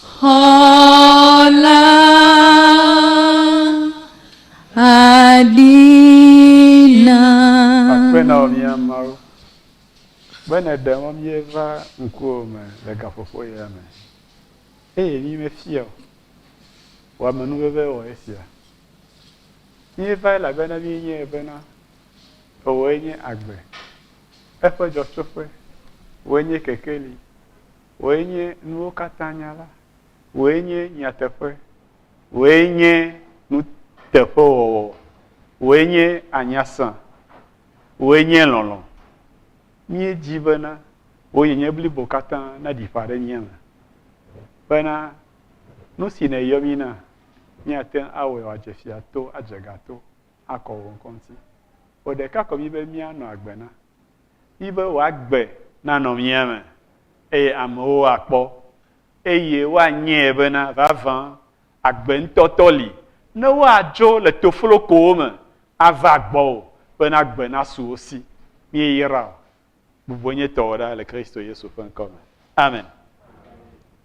Xɔ la adina. Akpe na wò mía Mawu, be nèɖe mɔ míeva ŋkuwò me le gaƒoƒo ya me, eye mímefia o. Wò amenuveve wɔ esia. Míevae elabena míenyae bena, èwòe nye agbe, eƒe dzɔtsoƒe, wòe nye kekeli, Wòe nye nuwo katã nyala. Wòe nye nyateƒe. Wòe nye nuteƒewɔwɔ. Wòe nye anyasã. Wòe nye lɔlɔ̃. Míedi bena Wò nyenye blibo katã naɖi ƒã ɖe mía me, bena nu si nèyɔ mí na, míate ŋu awɔe wòadze fia to, adze ga to, akɔ Wò ŋkɔ ŋuti. Wò ɖeka ko míbe míanɔ agbe na. Mídi be wòagbe nanɔ mía me eye amewo akpɔ eye woanyae bena vavã agbe ŋutɔtɔ li. Ne woadzo le toflokowo me ava gbɔwò bena gbe nasu wo si, míeyra wò bubɔnyetɔwo ɖa le Kristo Yesu ƒe ŋkɔ me. Amen.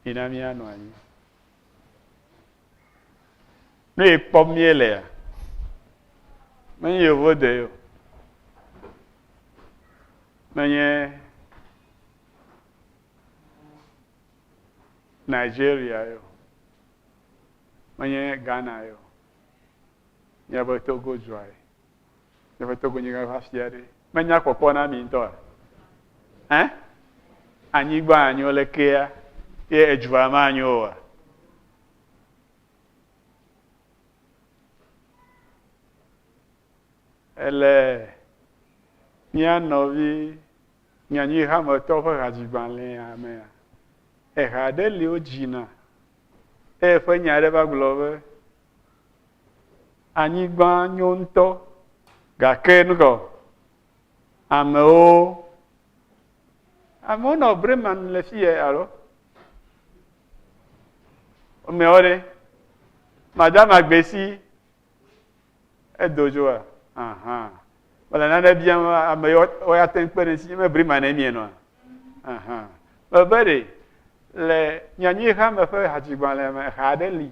Mina míanɔ anyi. Ne ye kpɔ mie le ya. Menye yevo de yo. Menye Nigeria yo. Menye Ghana yo. Nye be Togo dua ye. Yeƒe togonyigã ƒe afia ɖe menya kpɔkpɔ na mi ŋutɔa? Ɛ? Anyigba anyo le kea ye edua ma anyo oa? Ele mía nɔvi nyanyui hametɔ ƒe hadzigbalẽa mea, eha ɖe li wodzina eye ƒe nya aɖe va gblɔ be Anyigba nyo ŋutɔ gake nu kaɔ? Amewo, amewo nɔ Bremen le fiye alo? Womeawo ɖe? Madama Gbesi edo dzoa? Aha. Mele nane biam ame yiwo woya te ŋu kpe ɖe ŋuti. Me Bremen ne mienɔa? Aha. Mebe ɖe le nyanyuiha me ƒe hadzigbalẽ me ha aɖe li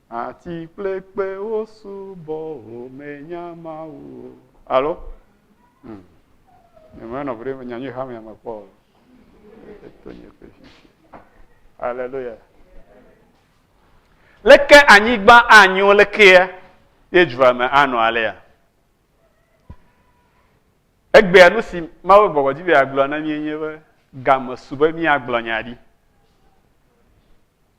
Ati kple kpewo subɔ wò menya Mawu o. Alo? Hmm. Nyemena nɔvi ɖe nya nyui xame ame kpɔ o. Eto nye ƒe sisi. Aleluya. Leke anyigba anyo lekea ye dua me anɔ alea? Egbea nu si Mawu gbɔgbɔ dzi be yeagblɔ na mí nye be game su be míagblɔ nya ɖi.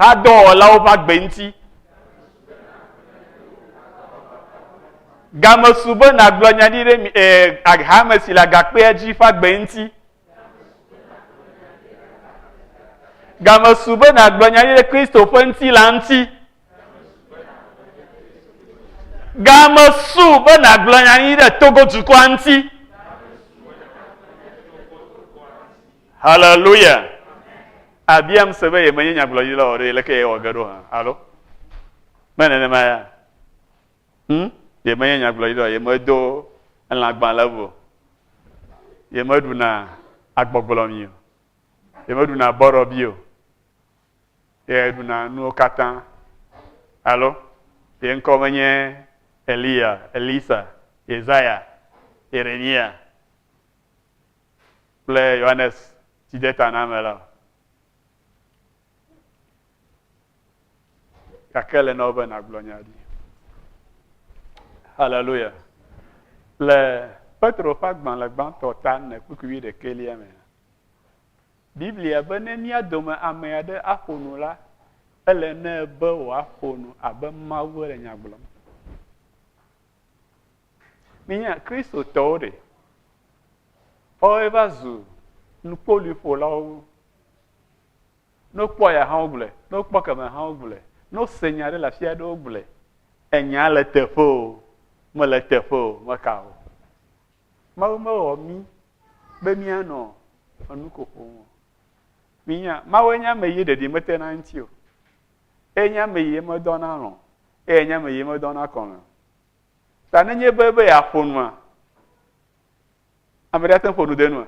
hadɔwɔlawo ƒe agbe ŋuti. Game su be nàgblɔ nya ɖi ɖe eh, hame si le agakpea dzi ƒe agbe ŋuti. Game su be nàgblɔ nya ɖi ɖe Kristo ƒe ŋutilã ŋuti. Game su be nàgblɔ nya ɖi ɖe Togo dukɔa ŋuti. Haleluya! Abiam se be yemenye nyagblɔɖila o ɖe, leke yewɔ ge ɖo hã? Alo me nenema ya? Hm? Yemenye nyagblɔɖila o, yemedo elãgbalẽ o, yemeɖuna agbɔgblɔmi o, yemeɖuna bɔrɔbi o, yeɖuna nuwo katã. Alo ye ŋkɔ menye Eliya, Elisa, Yesaya, Yeremia. kple Yohanes Tsidetaname la o. Gake ele na wò be nàgblɔ nya ɖi. Haleluya. Le Petro ƒe agbalẽ gbãtɔ ta ne kpukpui wi ɖekɛlia me. Biblia be ne mía dome ame aɖe aƒo nu la, ele ne be wòaƒo nu abe Mawu le nya gblɔm. Míenya Kristotɔwo ɖe, woawoe va zu nukpoluiƒolawo. Ne wokpɔ ya hã wogblɔe, ne wokpɔ kemɛ hã wogblɔe, ne wose nya aɖe le afi aɖe wogblɔe. Enya le teƒe o, mele teƒe o, meka o. Mawu mewɔ mí be míanɔ enu ko ƒom o. Mínya, Mawue nye ame yi ɖeɖi mete na eŋuti o. Eye nye ame yi medɔ na alɔ̃, eye nye ame yi medɔ na kɔme o. Ta nenye be be yeaƒo nua, ame ɖe ate ƒo nu de nua.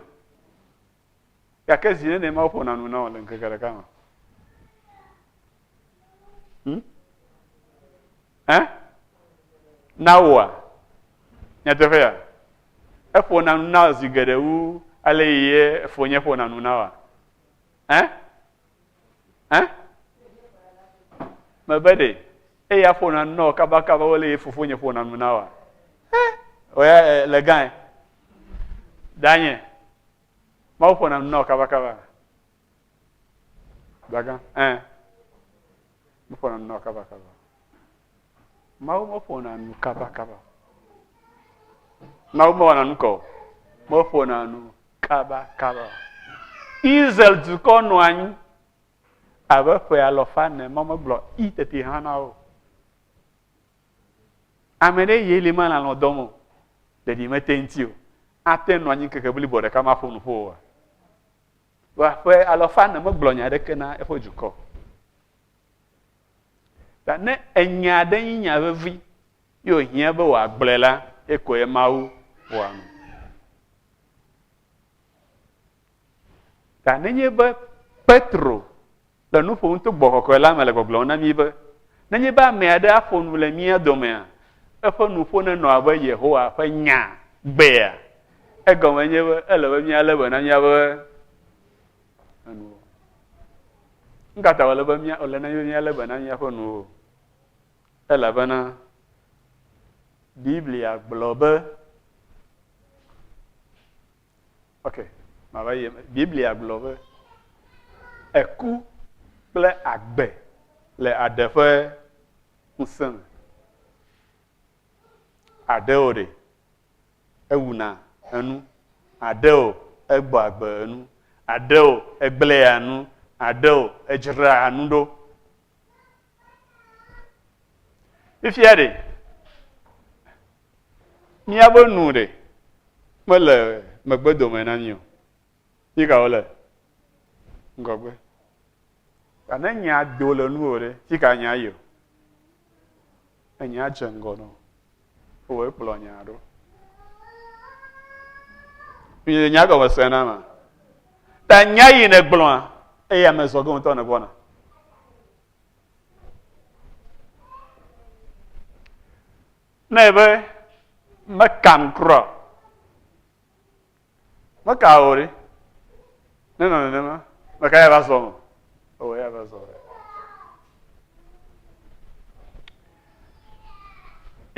Gake zi nene ma woƒona nu na wò le ŋkeke ɖeka me. Hmm? Eh? Na woa? Nyateƒe ya? Eƒona nu na zi geɖe wu ale yi ye fonye ƒona nu na wa. Eh? Hã? Mebe ɖe eya ƒona nu na wò kabakaba wole ye fofonye ƒona nu na wòa? Oya le gãe. Danye. Mawu ƒona nu na wò kabakaba. Gbagã. Ɛn. Meƒona nu na wò kabakaba. Mawu meƒona nu kabakaba. Mawu mewɔna nu kɔ. Meƒona nu kabakaba. Israel dukɔ nɔ anyi abe ƒe alɔfa ne ma megblɔ i tete hã na wo. Ame ɖe ye li ma nalɔ dɔm o. Ɖeɖi mete ŋuti o. Ate nɔ anyi keke blibo ɖeka maƒo nu ƒo oa. Wa ƒe alɔfa ne megblɔ nya aɖeke na eƒe dukɔ. Ta ne enya aɖe nyi nya vevi ye wòhiã be wòagblɔe la, ekɔe Mawu wɔa nu. Ta nenye be Petro le nu ƒom to gbɔ kɔkɔe la me le gbɔgblɔm na mí be nenye be ame aɖe aƒo nu le mía domea, eƒe nuƒo nenɔ abe Yehowa ƒe nya gbea, egɔme nye be ele be míalé be na míaƒe enu. Nu ka ta wòle be mía wòle na míalé be na míaƒe nuwo? Elabena Biblia gblɔ be, ok, mava yi eme. Biblia gblɔ be eku kple agbe le aɖe ƒe ŋusẽ me. Aɖe wò ɖe. ewuna enu, aɖe o, egbɔa agbe enu, aɖe o, egblẽa nu, aɖe o, edzraa nu ɖo. Fifia ɖe, míaƒe nu ɖe mele megbedome na mí o. Mí ka wole? Ŋgɔgbe. Ne nyaa do le nuwò ɖe, fi ka nyaa yi o? Enye adze ŋgɔ nɔ ewɔ ekplɔ nya ɖo. Nye nya gɔme se na ma. Ta nya yi ne gblɔa eya me zɔ gɔntɔ ne gbɔna. Ne be mekam kura. Meka o ɖe. Ne nɔ nenema, meka ya va zɔ nɔ. Ewɔ ya va zɔ.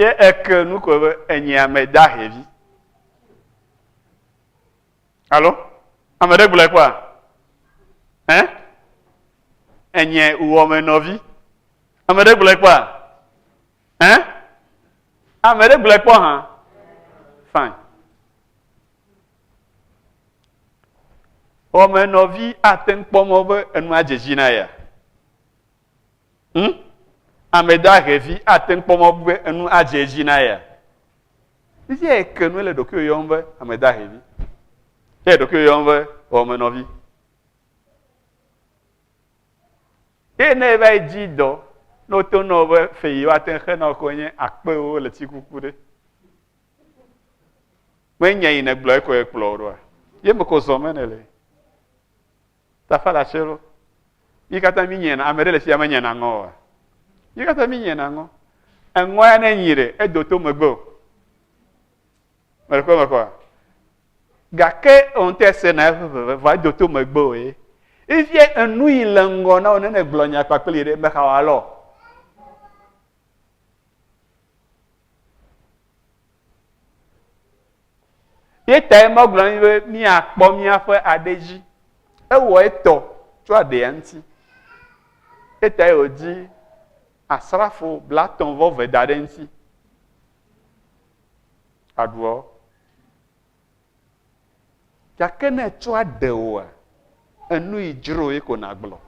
Ye eke nu ko be enye ame da hevi. Alo? Ame ɖe gblɔe kpɔa? Ɛ? Enye uwɔ me nɔvi. Ame ɖe gblɔe kpɔa? Ɛ? Ame ɖe gblɔe kpɔ hã? Fine. Wɔmenɔvi ate ŋu kpɔ mɔ be enua dze dzi na ya. Hm? Ame dahevi ate ŋu kpɔ mɔ be enu adze edzi na ya. Esi ya eke nu ele ɖokuiwò yɔm be ame dahevi. Ele ɖokuiwò yɔm be wɔmenɔvi. Eye ne eva yi dzi dɔ, ne wote nɔ be fe yi woate xe nɔ ko nye akpewo le tsikuku ɖe. Me nya yi ne gblɔ eko ekplɔ o ɖoa. Ye me ko zɔ me ne le. Ta fa la tselo. Mi kata mi nyena, ame ɖe le fia me nyena ŋɔ wa. Mi kata mi nyena ŋɔ. Eŋɔ ya ne nyi ɖe, edo to megbe o. Mele ko me koa. Gake ŋte se na eƒe veve vɔ edo to megbe o ye. Ifie enu yi le ŋgɔ na wone ne gblɔ nya kpakpli ɖe mexa wa lɔ. Ye tae ma gblɔ ni be mia kpɔ mia ƒe aɖe dzi. Ewɔ etɔ tso aɖea ŋuti. Ye tae o dzi asrafo blatɔ vɔ ve da ɖe ŋuti. aɖuɔ? Gake ne etsɔ aɖe wòa, enu yi dzro ye ko nàgblɔ.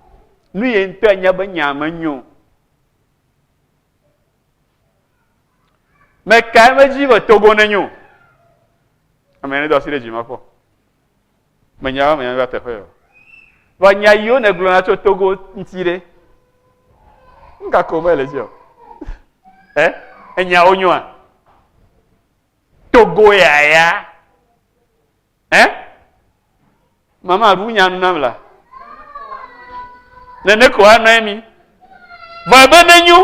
Nu ye ŋutɔ anya be nyaa menyo. Mekae medzi be Togo nenyo? Ame aɖe do asi ɖe dzi mekpɔ. Menya be menya va teƒe o. Vɔ nya yiwo nègblɔna tso Togo ŋuti ɖe, nu ka ko mele dzi o? Ɛ? Enyawo nyoa? Togo ya ya? Ɛ? Mama ɖu nya nu nam la. Nene ko anɔ emi. Vɔ ebe nenyo.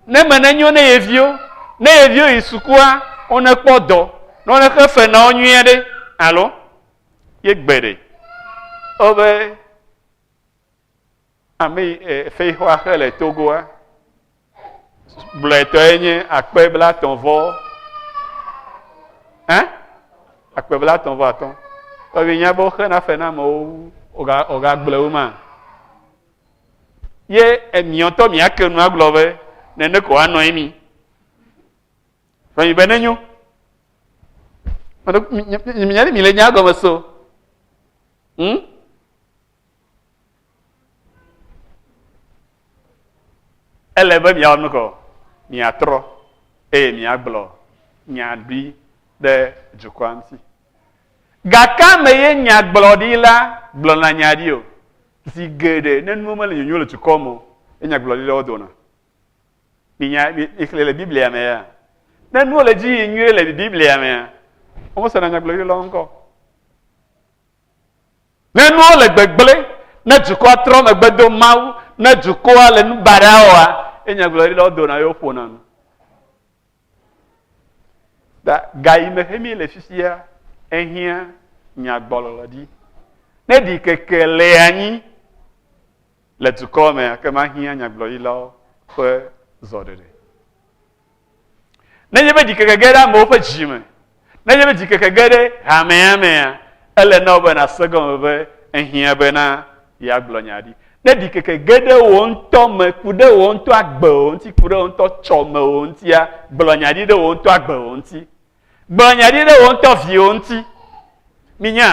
Ne me ne nyo ne ye viwo, ne ye viwo yi sukua, wo ne kpɔ dɔ, ne wo ne xe fe na wo nyuie ɖe, alo ye gbe ɖe. O be ame yi e, fexɔa xe le Togoa, blɔetɔ ye nye akpe bla tɔn vɔ, hein? Akpe bla tɔn vɔ atɔ. Tɔbi nya be wo xe na fe na amewo, oga oga gblɔe wo ma. Ye emiɔ ŋtɔ miake nu agblɔ be, nene ko woanɔ ye mi. Vɔ mi be nenyo. Minya ɖe mi le nya gɔme so. Hmm? Ele be miawɔ nu kɔ, miatrɔ eye miagblɔ nya ɖi ɖe dukɔa ŋuti. Gake ame ye nyagblɔɖila gblɔna nya ɖi o. Zi geɖe ne nuwo mele nyonyo le dukɔ me o, ye nyagblɔɖi ɖewo dona. Minya, mixlẽ le Biblia me ya. Ne nuwo le dzi yi nyuie le Biblia mea, womesena nyagblɔɖi lɔ ŋkɔ. Ne nuwo le gbegblẽ, ne dukɔa trɔ megbe do Mawu, ne dukɔa le nu baɖa wɔa, ye nyagblɔɖi lɔ dona ye woƒona nu. Da ga yi me hemi le fifia ehiã nyagbɔlɔlɔ dzi. Ne ɖi keke le anyi le dukɔ me ake mahiã nyagblɔɖilawo ƒe zɔɖeɖe. Nenye be ɖikeke ge ɖe amewo ƒe dzi me Nenye be dzikeke ge ɖe hamea mea, ele na wò be nàse egɔme be ehiã bena yeagblɔ nya ɖi. Ne ɖikeke ge ɖe wò ŋutɔ me, ku ɖe wò ŋutɔ agbewò ŋuti, ku ɖe wò ŋutɔ tsɔmewò ŋutia, gblɔ nya ɖi ɖe wò ŋutɔ agbewò ŋuti. Gblɔ nya ɖi ɖe wò ŋutɔ viwò ŋuti. Minya?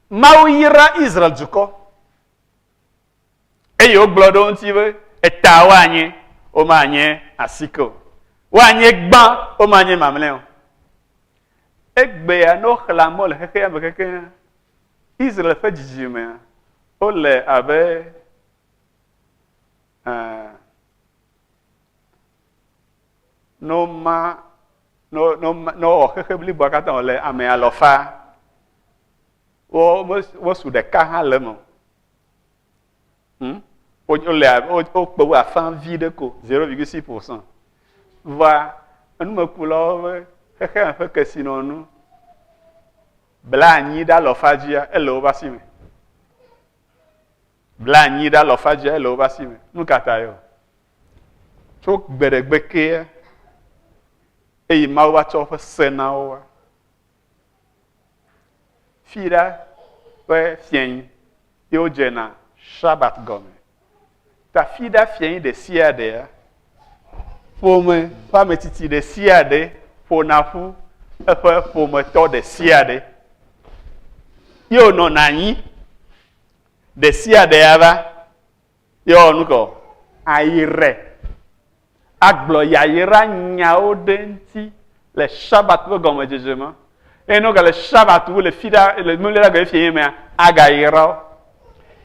Mawu yra Israel dukɔ. Eye wogblɔ ɖe wo ŋuti be eta woanye, womanye asike o. Woanye gbã, womanye mamlɛ o. Egbea ne woxlẽ amewo le xexea me kekeŋ, Israel ƒe dzidzimea, wole abe eh, ne woma ne wowɔ xexe bliboa katã wòle ame alɔfa, wosu ɖeka hã le eme o. Hmm? Wole wokpe wo afã vi ɖe ko, 0,6%. Vɔa, enumekulawo be xexea ƒe kesinɔnu bla anyi ɖe alɔfa dzia ele woƒe asi me. Bla anyi ɖe alɔfa dzia ele woƒe asi me. Nu ka ta yɔ? Tso gbeɖegbe kea eye Mawu va tsɔ woƒe se na wo. Fii ɖa ƒe fiẽi ye wodze na Sabbat gɔme. Ta fii ɖa fiẽi ɖe sia ɖea, ƒome ƒe ametsitsi ɖe sia ɖe ƒona ƒu eƒe ƒometɔ ɖe sia ɖe ye wònɔna anyi ɖe sia ɖe ava. Yɔ nu kɔ. Ayre. Agblɔ yayra nyawo ɖe ŋti le Shabbat ƒe gɔmedzedze me. Eye ne wogale Shabbat wu le fiɖa le mimlila gɔe fie mea, agayra wo.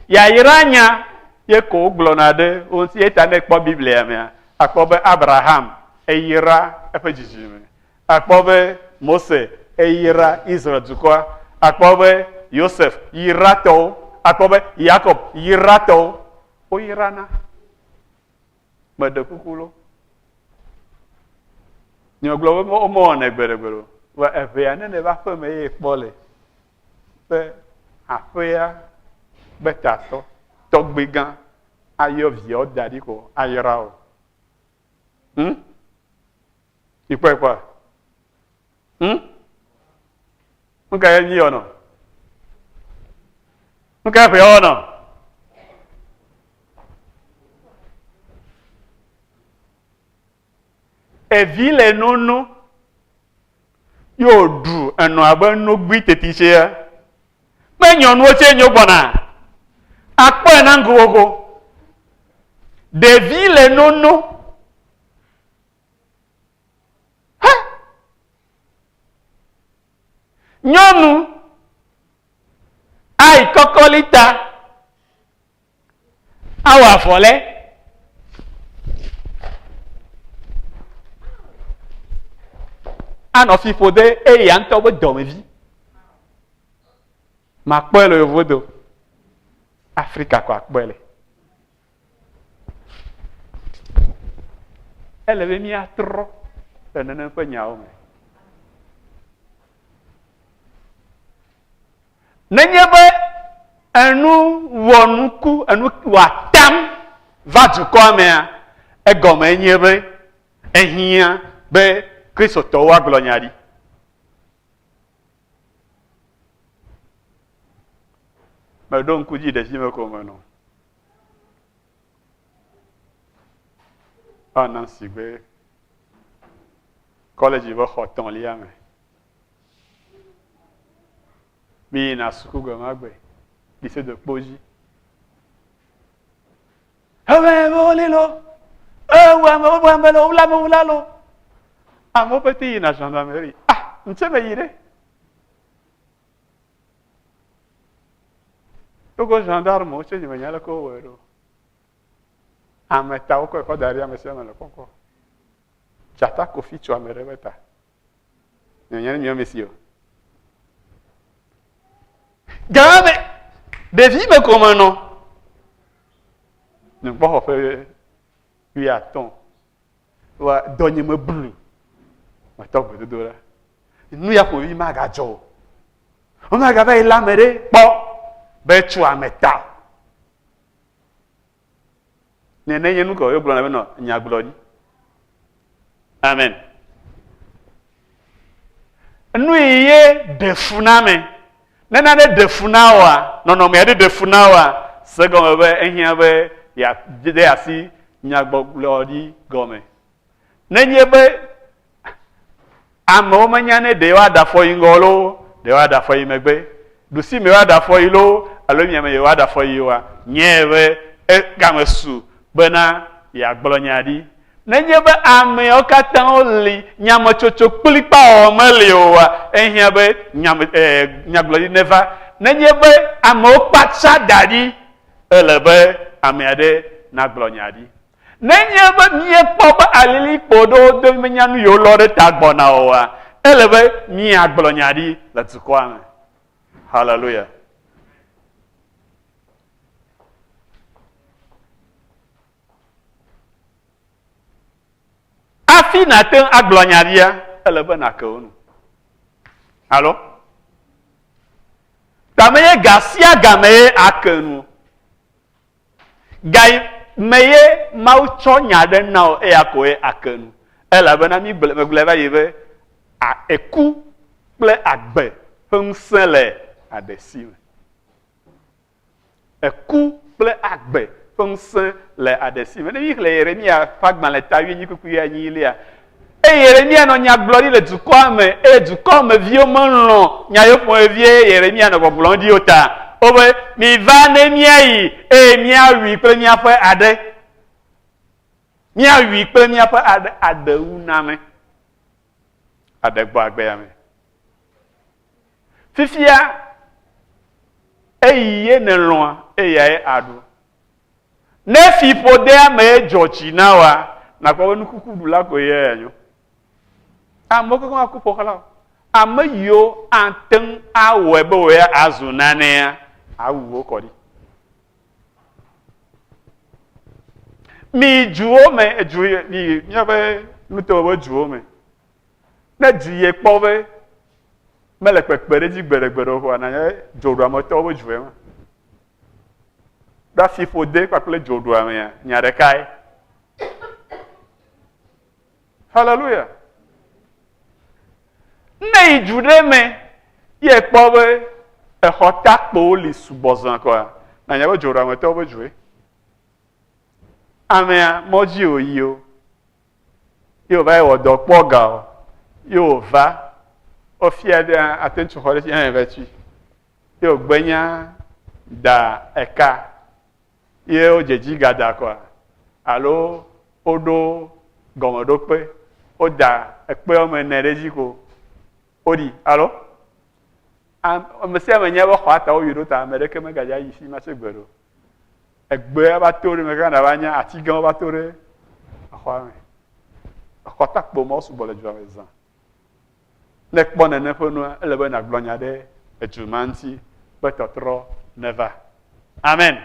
Yayra nya ye ko wogblɔna ɖe wo ŋti. Eyata ne ekpɔ Biblia mea, akpɔ be Abraham eyra eƒe dzidzime. Akpɔ be Mose eyra Israel dukɔa. Akpɔ be Yosef yra tɔwo. Akpɔ be Yakob yra tɔwo. Wo yra na. Me ɖe kuku lo. Nyɔ gblɔ be wo me wɔ ne gbe ɖe gbe lo. Wa eʋea ne ne va ƒe me ye kpɔ le. Be aƒea be ta tɔ. Tɔgbe gã. Ayɔ viawo da ɖi ko. Ayra o. Hmm? Mi kpɔe kpɔa? Hm? Nu ka ye mi wɔnɔ? Nu ka ye ƒe wɔnɔ? Evi le nono ye wòɖu enɔ abe nogui tetitia. Ƒe nyɔnuwo tse nyo gbɔna. Akpɔe na ŋkuwoko. Ɖevi le nono. He! Nyɔnu ayi kɔkɔli ta awɔ avɔ lɛ. Anɔ fi ƒo de eya ŋutɔ be dɔmevi. Makpɔe le yevudo. Afrika ko akpɔe le. Ele be míatrɔ le nenem ƒe nyawo me. Nenye be enu wɔ nuku, enu wɔ atam va dukɔa mea, egɔme nye be ehiã be Kristotɔwo agblɔ nya ɖi. Meɖo ŋku dzi ɖe dzi me ko menɔ. Paul Nancy ƒe kɔlɛdzi ƒe xɔ tɔ̃lia me. Mi yina suku gbe ma gbe, mi se do kpo dzi. Ewɛ amewo li lo, ewu amewo bu ame lo, wula amewo la lo. Amewo pete yina gendarmerie. Ah, ntse me yi ɖe. Wogo gendarmewo tse nyemenya aleke wowɔe ɖo. Ame ta wokɔe kɔ da ɖi ame sia ame le kpɔkpɔ. Dzata kofi tso ame ɖe ƒe ta. Nyemenya ne mia me si o. Gã me ɖevi me ko me nɔ. Nukpɔxɔ ƒe wuiatɔ̃ wa dɔ nye me blu matɔ gbedodo la nu ya ƒovi magadzɔ o womagava yi la me ɖe kpɔ be tso ame ta ne ne nye nu kɔ yogblɔ na be nɔ nyagblɔ ɖi amen Nui ye ɖe fu na ame? Ne nane ɖe fu na wòa, nɔnɔme aɖe ɖe fu na wòa, se egɔme be ehiã be yeade asi nyagbɔgblɔ ɖi gɔme. Nenye be amewo menya ne ɖe yewoaɖe afɔ yi ŋgɔ loo, ɖe yewoaɖe afɔ yi megbe, ɖusime yewoaɖe afɔ yi loo alo miame yewoaɖe afɔ yi oa, nyea be egame su bena yeagblɔ nya ɖi. Nenye be ameawo katã li nyametsotso kplikpaa meli oa, ehiã be nyagblɔɖi neva. Nenye be amewo kpatsa da ɖi, ele be ame aɖe nagblɔ nya ɖi. Nenye be míekpɔ be alilikpo ɖewo do menya nu yewolɔ ɖe ta gbɔna oa, ele be míagblɔ nya ɖi le dukɔa me. Haleluya! Hafi nàte ŋu agblɔ nya ɖia, ele be nàke wo nu. Alo? Tame ye ga sia ga me ye ake nu. Ga me ye Mawu tsɔ nya ɖe na wò eya ko ye ake nu. Elabena mígblɔ megblɔe va yi be eku kple agbe ƒe ŋusẽ le aɖe si me. Eku kple agbe ƒe ŋusẽ le aɖe si me. Ne míxlẽ Yeremiya ƒe agbalẽ ta wuienyi kpukpui wuienyilia, eye Yeremiya nɔ nya gblɔm ɖi le dukɔa me eye dukɔa me viwo melɔ̃ nya yewo ƒomevie eye Yeremiya nɔ gbɔgblɔm ɖi o ta. Wobe, Miva ne míayi eye míawui kple míaƒe aɖe. Míawui kple míaƒe aɖe, adewuname. aɖe gbɔ agbea me. Fifia eyi ye nèlɔ̃a eyae aɖu. Ne fiƒodea mee dzɔ tsi na woa, nàkpɔ be nukukuɖula koe ye anyo. Amewo kekeŋ aku ƒoxlã o. Ame yiwo ate ŋu awɔe be wòye azu nanea, awu wo kɔ ɖi. Mi duwo me, edu mi míaƒe nuteƒe ƒe duwo me. Ne du yie kpɔ be mele kpekpe ɖe edzi gbeɖegbeɖe o ƒoa, nanye dzoɖuametɔwo ƒe due ma. Ɖo afiƒode kpakple dzoɖuamea, nya ɖekae. Hallelujah. Ne yi du ɖe me ye kpɔ be exɔ takpowo li sugbɔ zã kɔa, na nya be dzo ɖe ametɔwo be dzoe. Amea mɔdzi o yi o. Ye wòva yi wɔ dɔ kpɔ ga o. Ye wòva wofia ɖe ate ŋu xɔ ɖe tsi hã va tsi. Ye wògbenya da eka ye wodze dzi gada kɔa? Alo woɖo gɔmeɖokpe, woda ekpe woame ene ɖe edzi ko woɖi. Alo ame sia ame nya be xɔa ta woyi ɖo ta ame ɖeke megadze ayi fi ma tso gbe ɖo. Egbea va to ɖe me gã nava nya ati gãwo va to ɖe exɔa me. Exɔtakpo mawo sugbɔ le dua me zã. Ne kpɔ nene ƒe nua, ele be nàgblɔ nya ɖe edu ma ŋuti be tɔtrɔ neva. Amen.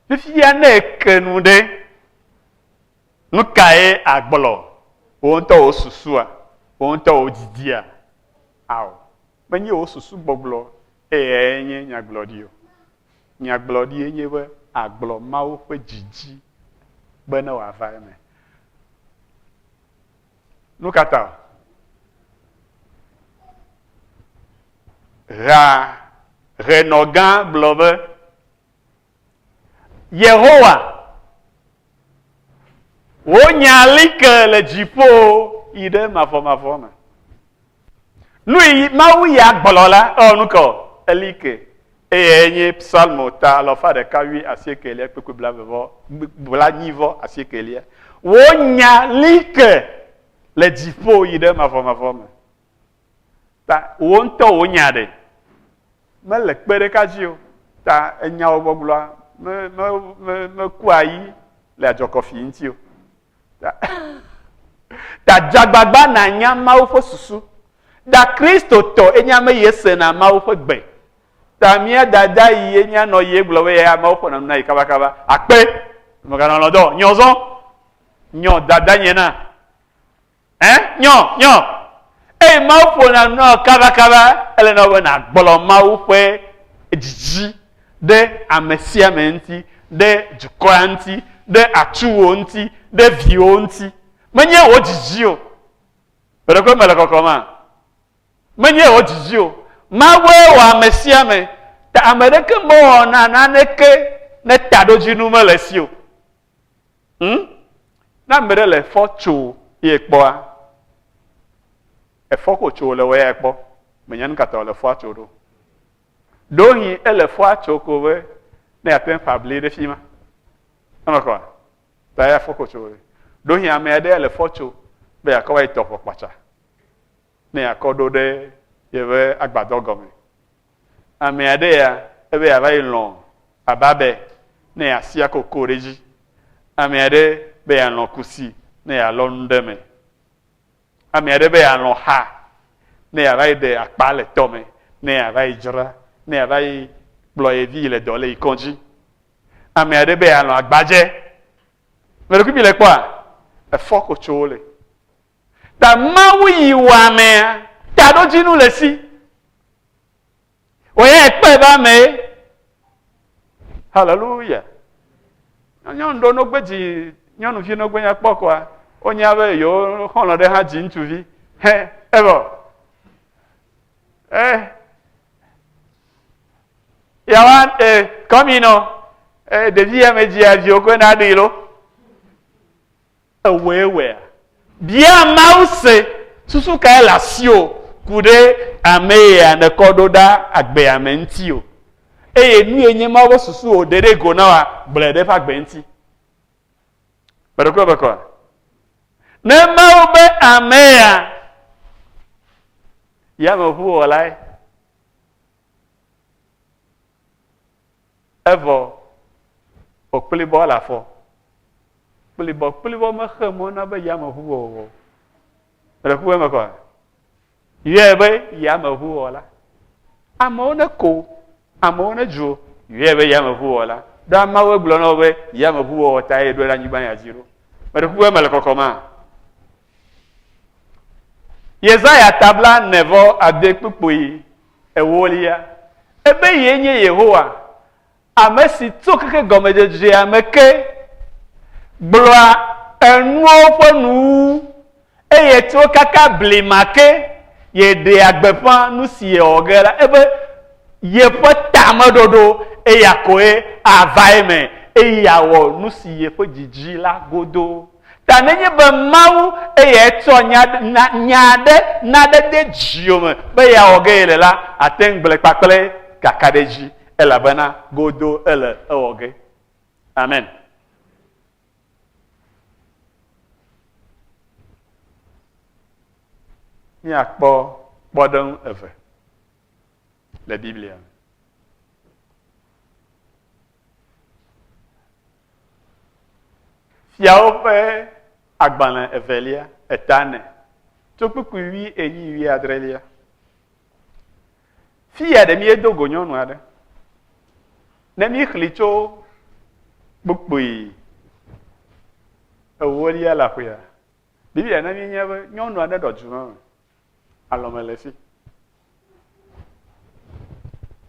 Fifia ne eke nu ɖe, nu kae agblɔ? Wò ŋutɔ wò susua, wò ŋutɔ wò didia. Ao. menye wò susu gbɔgblɔ eyae nye nyagblɔɖi o. Nyagblɔɖie nye be àgblɔ Mawu ƒe didi be ne wòava eme. Nu ka ta o? Ɣea, ɣenɔgã gblɔ be, Yehowa, wò nya li ke le dziƒo yi ɖe mavɔmavɔ me. Nu yi Mawu ya gblɔ la, ɔ nu kɔ, eli ke. Eye enye psalmo ta alɔfa ɖeka wui asiekelia kpekpe blavevɔ blanyivɔ asiekelia. Wò nya li ke le dziƒo yi ɖe mavɔmavɔ me. Ta wò ŋutɔ wò nya ɖe mele kpe ɖeka dzi o. Ta enyawo gbɔgblɔa me me me mekua yi le adzɔkɔfi ŋuti o. Ta ta dze agbagba nànya Mawu ƒe susu. Da Kristotɔ enye ame yi esena Mawu ƒe gbe. Ta mía dada yi enye anɔ yi egblɔ be ya Mawu ƒo na nu na yi kabakaba. Akpe! Meganɔ lɔdɔ nyɔ zɔ nyɔ dada nye na. Ẽ? Nyɔ, nyɔ! Eye Mawu ƒona nu na wò kabakaba, ele na wò be nàgblɔ Mawu ƒe dzidzi ɖe ame sia ame ŋuti, ɖe dukɔa ŋuti, ɖe atuwò ŋuti, ɖe viwò ŋuti. Menye wò dzidzi o. Ƒe ɖe koe mele kɔkɔm a? Menye wò dzidzi o. Mawue wɔ ame sia ame. Ta ame ɖeke mewɔna naneke ne taɖodzinu mele esi o. Ŋ, ne ame ɖe le efɔ tso ye kpɔa, efɔ ko tso wòle wɔ ya kpɔ, mènya nu ka ta wòle efɔa tso ɖo. Ɖewohĩ ele efɔa tso ko be ne yeate ŋu ƒa bli ɖe fi ma. Eme kɔa? Ta ya efɔ ko tso wòle. Ɖewohĩ ame aɖe ele efɔ tso be yeakɔ va yi tɔ ʋɔ kpatsa ne yeakɔ ɖo ɖe yeƒe agbadɔ gɔme. Ame aɖe ya ebe yeava yi lɔ̃ aba be ne yeasi akoko ɖe edzi. Ame aɖe be yealɔ̃ kusi ne yealɔ nu ɖe eme. Ame aɖe be yealɔ̃ xa ne yeava yi ɖe akpa le tɔ me, ne yeava yi dzra, ne yeava yi kplɔ ye vi yi le dɔ le yi kɔdzi. Ame aɖe be yealɔ̃ agbadze. Ame ɖe kui mi le kpɔa? Efɔ ko tso wo le. Ta Mawu yi wɔ amea, taɖodzinu le si. Wòye ekpɔe be ame ye. Haleluya. Nyɔnu ɖewo no gbe dzi nyɔnuvi no gbe nya kpɔ kɔa, wonya be yewo xɔlɔ ɖe hã dzi ŋutsuvi. Hɛ, evɔ. Eh. Yawa, eh, kɔmi nɔ, eh, ɖevi ya me dzi aviwo koe na ɖi lo. Èwɔe wɔea? Bia Mawu se, Susu kae le asiwò ku ɖe ame yea nèkɔ ɖo ɖa agbea me ŋuti o? Eye nue nye Mawu ƒe susu wòɖe ɖe go na wòa? Gblɔe ɖe eƒe agbe ŋuti. Meɖo kple ebe kɔa? Ne Mawu be ame yea, yameʋuwɔlae. Evɔ kpokplibɔ le afɔ. Kplibɔkplibɔ mexe mɔ na be yameʋuwɔwɔ o. Mele ku eme kɔa? Yɔe be yameʋuwɔla. Amewo ne ko, amewo ne dzo, yɔe be yameʋuwɔla. Ɖo ameawo gblɔ na wo be yameʋuwɔwɔ tae ɖo ɖe anyigba ya dzi ɖo. Mele ku eme le kɔkɔma. Yesaya tabla ne vɔ ade kpukpui Ewolia, ebe yee nye Yehowa, ame si tso keke gɔmedzedzea me ke gblɔa enuwo ƒe nuwuwu, eye tso kaka blima ke ye ɖea gbeƒã nu si yewɔ ge la, ebe yeƒe tameɖoɖo eya koe ava eme, eye yeawɔ nu si yeƒe dzi di la godoo. Ta nenye be Mawu eyae tsɔ nya, na, nya aɖe na ɖe de dziwò me be yeawɔ ge yele la, àte ŋu gblɔe kpakple kakaɖedzi, elabena godoo ele ewɔ ge. Amen. Míakpɔ kpɔɖeŋu eve le Biblia me. Fiawo ƒe agbalẽ evelia, eta nɛ, tso kpukpui wui enyi wui adrelia. Fiya ɖe míedo go nyɔnu aɖe. Ne míexli tso kpukpui ewolia la ƒea, Biblia na míenya be nyɔnu aɖe ɖɔ dzimeme alɔ me le fi.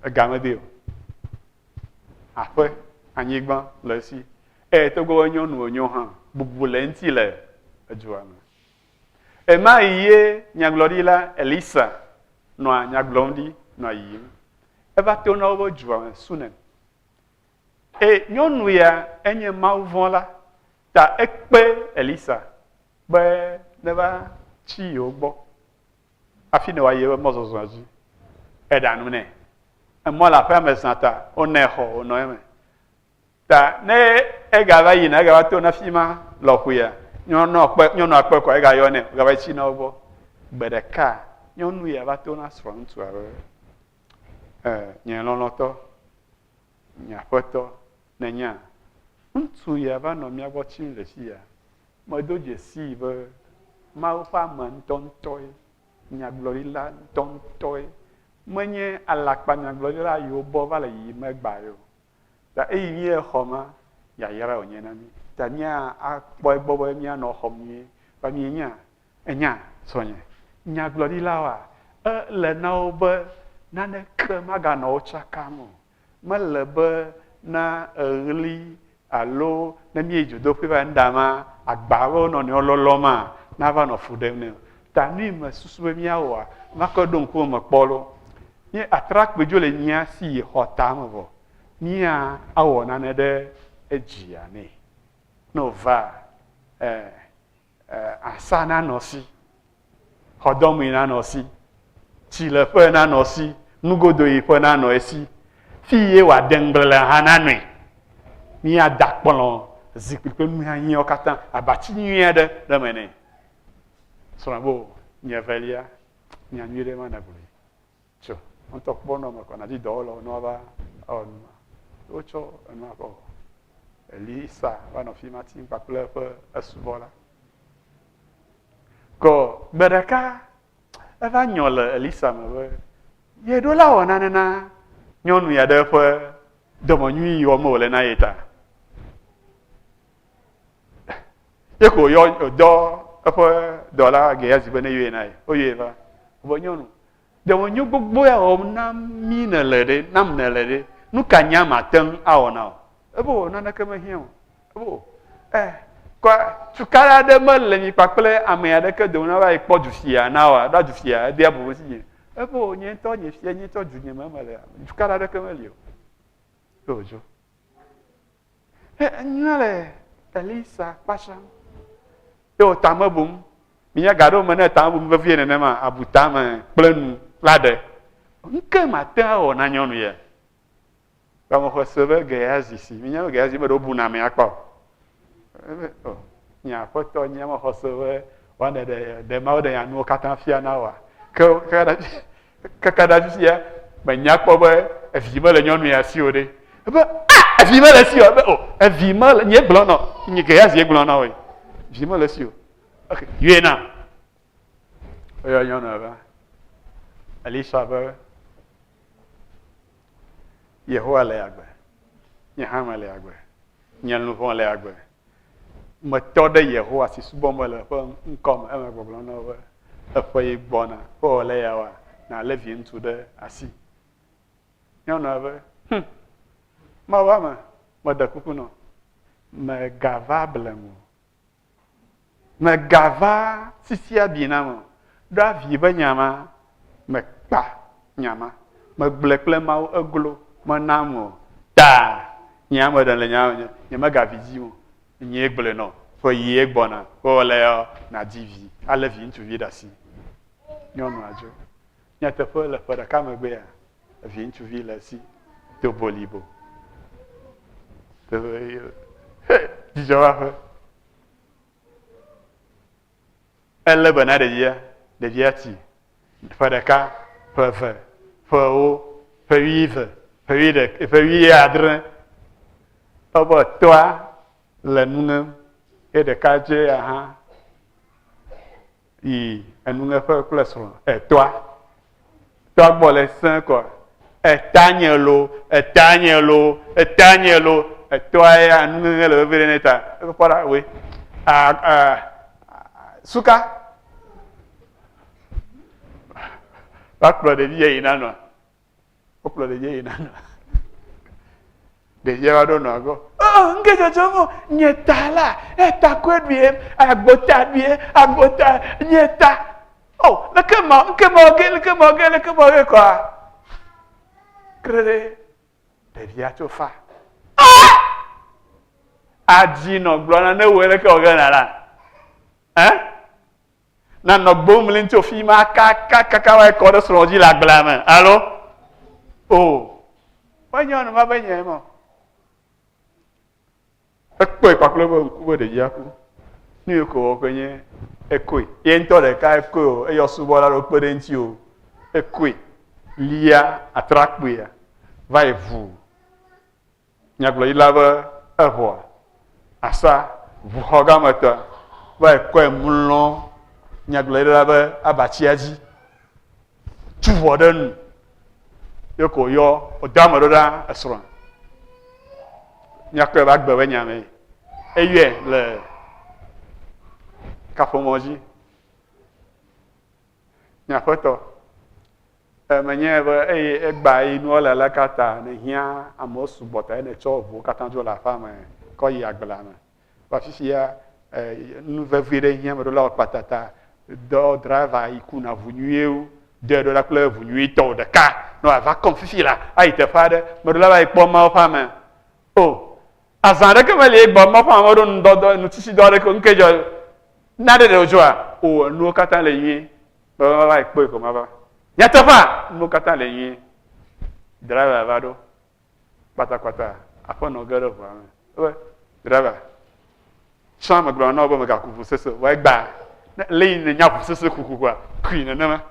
Ega me de o. Aƒe, anyigba le fi. Eye togbɔ be nyɔnu wònyo hã, bubu le eŋuti le edua me. Ema yi ye nyagblɔɖila Elisa nɔa nya gblɔm ɖi nɔa yiyim. Eva tona woƒe dua me Sunem. Eye nyɔnu ya enye mawuvɔ̃la, ta ekpe Elisa be neva tsi yewo gbɔ hafi ne wòayi eƒe mɔzɔzɔa dzi. Eɖa nu nɛ. Emɔ le aƒea me zã ta wonɛ xɔ wònɔ eme. Ta ne egava yina, egava tona afi ma lɔƒoea, nyɔnua kpɔe, nyɔnua kpɔe kɔa, egayɔnɛ wògava yi tsina wo gbɔ. Gbe ɖeka nyɔnu ya va tona srɔ̃ŋutsua be, E, nye lɔlɔ̃tɔ, Nye aƒetɔ, nènya, ŋutsu ya va nɔ mía gbɔ tsim le afi ya. Medo dzesii be Mawu ƒe ame ŋutɔŋutɔe, nyagblɔɖila ŋutɔŋutɔe, menye alakpanyagblɔɖila yi wobɔ va le yiyim egbea ye o. Ta eyi mí le xɔ ma, yayrae wònye na mí. Ta mía akpɔ egbɔ be míanɔ xɔm nyuie. Ta mienya, Ènya, srɔ̃nye? Nyagblɔɖilawoa? Ele na wo be naneke maganɔ wo tsakam o. Mele be na eɣli alo ne míeyi dzodoƒee va nuɖama, agba alo wo nɔnɔewo lɔlɔ ma nava nɔ fu ɖem nɛ o. Ta nui mesusu be míawɔa, makɔe ɖo ŋkume me kpɔ loo. Nye atrakpui dzo le nyea si yi xɔ tame vɔ. Mía awɔ nane ɖe edzia nɛ. Ne wòvaa, ɛɛ. asa nanɔ si, xɔdɔmee nanɔ si, tsileƒe nanɔ si, nugodoyiƒe nanɔ esi, fi ye wòade ŋgble hã nanɔe. Míada kplɔ̃, zikpui kple nu hiahiãwo katã, abati nyui aɖe ɖe eme nɛ. Srɔ̃a be, O, nye evelia, nya nyui ɖe ma nègblɔ. Tso, wò ŋutɔ kpɔ nɔ eme kɔ nàdi dɔwɔlawo ne woava awɔ nu ma. Ye wotsɔ enua kɔ wɔ. Elisa va nɔ afi ma tim kpakple eƒe esubɔla. Kɔ gbe ɖeka eva nyɔ le Elisa me be yeɖo la wɔ nane na nyɔnu ya ɖe eƒe dɔmenyui yi wɔm wòle na ye ta. Ye ko wòyɔ wòdɔ eƒe dɔla Gehazi be ne yɔe na ye. Woyɔe va. Be nyɔnu, Dɔmenyo gbogbo ya wɔm na mí nèle ɖe, nam nèle ɖe, nu ka nye ame ate ŋu awɔ na wò? Ebe wò naneke mehiã o. Ebe wò ɛ kɔ tukaɖa aɖe mele mi kpakple ame aɖeke dome nava yi kpɔ du fia na wòa, ɖa du fia ebia bɔbɔ si nye. Ebe wò nye ŋutɔ nye fia, nye ŋutɔ du nye me melea, tukaɖa aɖeke meli o. Ye wòdzo. He enyla le Elisa kpasam. Ye wò tame bum. Minya ga ɖewo me ne tame bum vevie nenema abu tame kple nu la ɖe. Nuke mate awɔ na nyɔnu ye. Gbamexe se be Geyazi si. Minya be Geyazi me ɖewo buna ame akpa o. Ebe o oh, nye aƒetɔ nye mexɔ se be wane ɖe ɖe mawo ɖe nya nuwo katã fia na wa. Ke ke Ekaka ɖe afisia menya kpɔ be evi mele nyɔnu ya si o ɖe. Ebe ah evi mele si o. Ebe o oh, evi mele nye gblɔ nɔ nye ke ya zi gblɔ nɔ oe. Vi mele si o. Ok yue na. Oyɔ nyɔnu ya be Elisa be Yehowa le agbe. Nye hã mele agbe. Nye luʋɔ le agbe. metɔ ɖe Yehowa si subɔm mele ƒe ŋkɔ me eme gbɔgblɔ na wo be, Eƒeɣi gbɔna be wòle eya wɔa, nàlé viŋutsu ɖe asi. Nyɔnua be, Hum, Mawu ame, meɖe kuku nɔ, mègava blem o. Mègava sisi abi nam o. Ɖo avi be nya ma, mekpa nya ma. Megblɔe kple Mawu eglo, menam o. Ta, nye ame ɖe le nya me nye, nyemegavi dim o. Nyee gblɔe nɔ. Ƒe ɣie gbɔna, be wòle ya, nàdi vi, alé viŋutsuvi ɖe asi. Nyɔnua dzo. Nyateƒe, le ƒe ɖeka megbea, viŋutsuvi le esi, do bolibo. He, dzidzɔ va ƒe. Elé be na ɖevia, ɖevia ti ƒe ɖeka, ƒe eve, ƒe ewo, ƒe wuieve, ƒe wuiɖe, ƒe wuiadre. Ebe etɔa le nu ŋem ye ɖeka dzea hã yi enuŋeƒe kple srɔ̃ etɔa tɔa gbɔ le sẽ kɔ etanye lo etanye lo etanye lo etɔa ya enuŋeŋe le vevi ɖe ne ta eƒe kpɔ ɖa we suka va kplɔ ɖevi yɛ yina nɔ wokplɔ ɖevia yina na ɖevia va ɖo nɔ agɔ oh nke dzɔdzɔm o nye ta la eta koe ɖuie agbota ɖuie agbota nye ta o oh, leke ma nke ma ge leke ma ge leke ma ge kɔa krere ɖevia tso fa ah! adzi nɔ gblɔ na ne wɔ leke wɔ ge na la ɛ. Eh? Na nɔ gbo mlim tso fi ma kakakaka wa kɔ ɖe srɔ̃ dzi le agblea me. Alo? O. Menye ɔnu ma be nye mɔ. Ekpɔe kpakple be ŋku be ɖevia ku. Nu yi ko wɔƒe nye ekoe. Ye ŋutɔ ɖeka ekoe o, eyɔ subɔla ɖewo kpe ɖe eŋuti o. Ekoe. Lia atrakpuia va yi ʋuu. nyagblɔɖila be eho asa ʋuxɔ gã me te va yi kɔe mlɔ nyagblɔɖila be abatsia dzi, tu ʋɔ ɖe nu, ye ko yɔ wòda ame ɖo ɖa esrɔ̃. Míakpɔe be agbe be nya mee. Eyɔe le kaƒomɔ dzi. Nye aƒetɔ, e, menyae be eye egbea yi nua le aleka ta nèhiã amewo sugbɔ tae nètsɔ ʋuwo katã dzo le aƒea me kɔ yi agblea me. Va fifia, e, nu vevi ɖe hiã meɖolawo kpata ta. Dɔ driver yi kuna ʋu nyuie wu. Dɔe ɖo la kple ʋu nyuitɔ ɖeka. Ne wòava kɔm fifi la, ayi teƒe aɖe. Meɖola va yi kpɔ Mawu ƒe ame. O! Azã aɖeke meli egbɔ be maƒo ame ɖo ŋdɔdɔ nutsitsidɔ aɖeke o. Nu ke dzɔ na ɖe ɖe wòdzɔa? O, enuwo katã le nyuie. Vavava ekpɔe ko mava. Nyateƒea, nuwo katã le nyuie. Driver va ɖo. Kpatakpata aƒenɔ ge ɖe ʋua me. Ebe, driver, tsã megblɔ na wò be mègaku ʋu sese o. Vɔ egbea, ne le yi nènya ʋu sese kukuhua, kui nenema.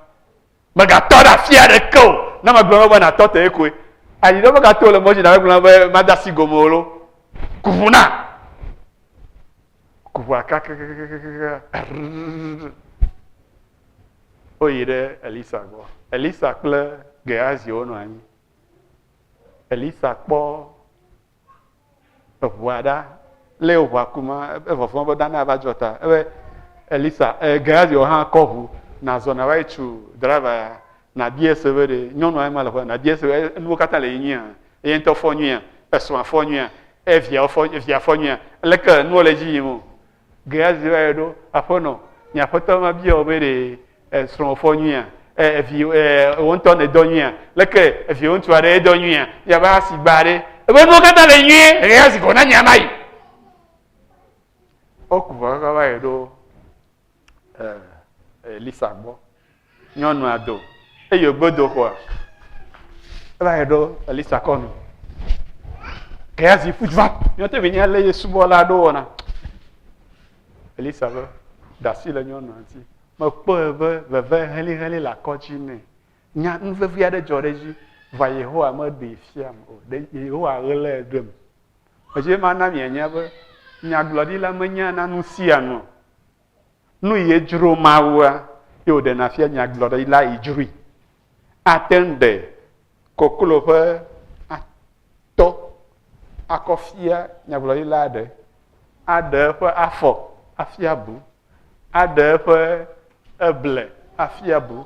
Mègatɔ ɖe afi aɖeke o. Ne megblɔ na wò be nàtɔ tee koe. Ayi ɖe meka to le mɔ dzi na megblɔ na be made asi gome o lo. Ku ŋu na. Ku ŋua kakakakakakaka. Woyi ɖe Elisa gbɔ. Elisa kple Gehazi wonɔ anyi. Elisa kpɔ eʋua ɖa lé eʋua ku ma evɔvɔa be dana va dzɔ ta ebe elisa eh, gehazi wɔ hã kɔ ʋu nazɔ nava yi tsu driver ya nabia se be ɖe nyɔnua ma le ƒe nabia se be enuwo katã le yi nyuia eye ŋutɔ fɔ nyuia esrɔ̃a fɔ nyuia eviawo fɔ evia fɔ nyuia leke enuwo le edzi yim o Gehazi va yɔ ɖo, aƒenɔ, nye aƒetɔ va bia wò be ɖe esrɔ̃wò fɔ nyuia? E, evi e, wò ŋutɔ nèdɔ nyuia? Leke eviwò ŋutsu aɖe edɔ nyuia? Yia va asi gba aɖe. Ebe nuwo katã le nyuie, Gehazi gɔna nya ma yi. Woku vɔ va va yɔ ɖo e, Elisa gbɔ. Nyɔnua do eye wògbe do xɔa. Eva yi ɖo Elisa kɔ nu. Gehazi ƒu va. Nyɔte mi nya lé ye subɔla ɖo wɔna. Elisa be ɖasi le nyɔnua ŋuti. Mekpɔe be veve heliheli le akɔ dzi nɛ. Nya nu vevi aɖe dzɔ ɖe edzi. Vɔ Yehowa meɖee fiam o. Ɖe Yehowa ɣlae ɖem. Edzi be mana mianya be nyagblɔɖila menyana nu sia nu o. Nu yi edzro Mawua, ye wòɖena fia nyagblɔɖila yi dzroe. Ate ŋu ɖe koklo ƒe atɔ akɔ fia nyagblɔɖila aɖe, aɖe eƒe afɔ afia bu, aɖe eƒe eble afia bu.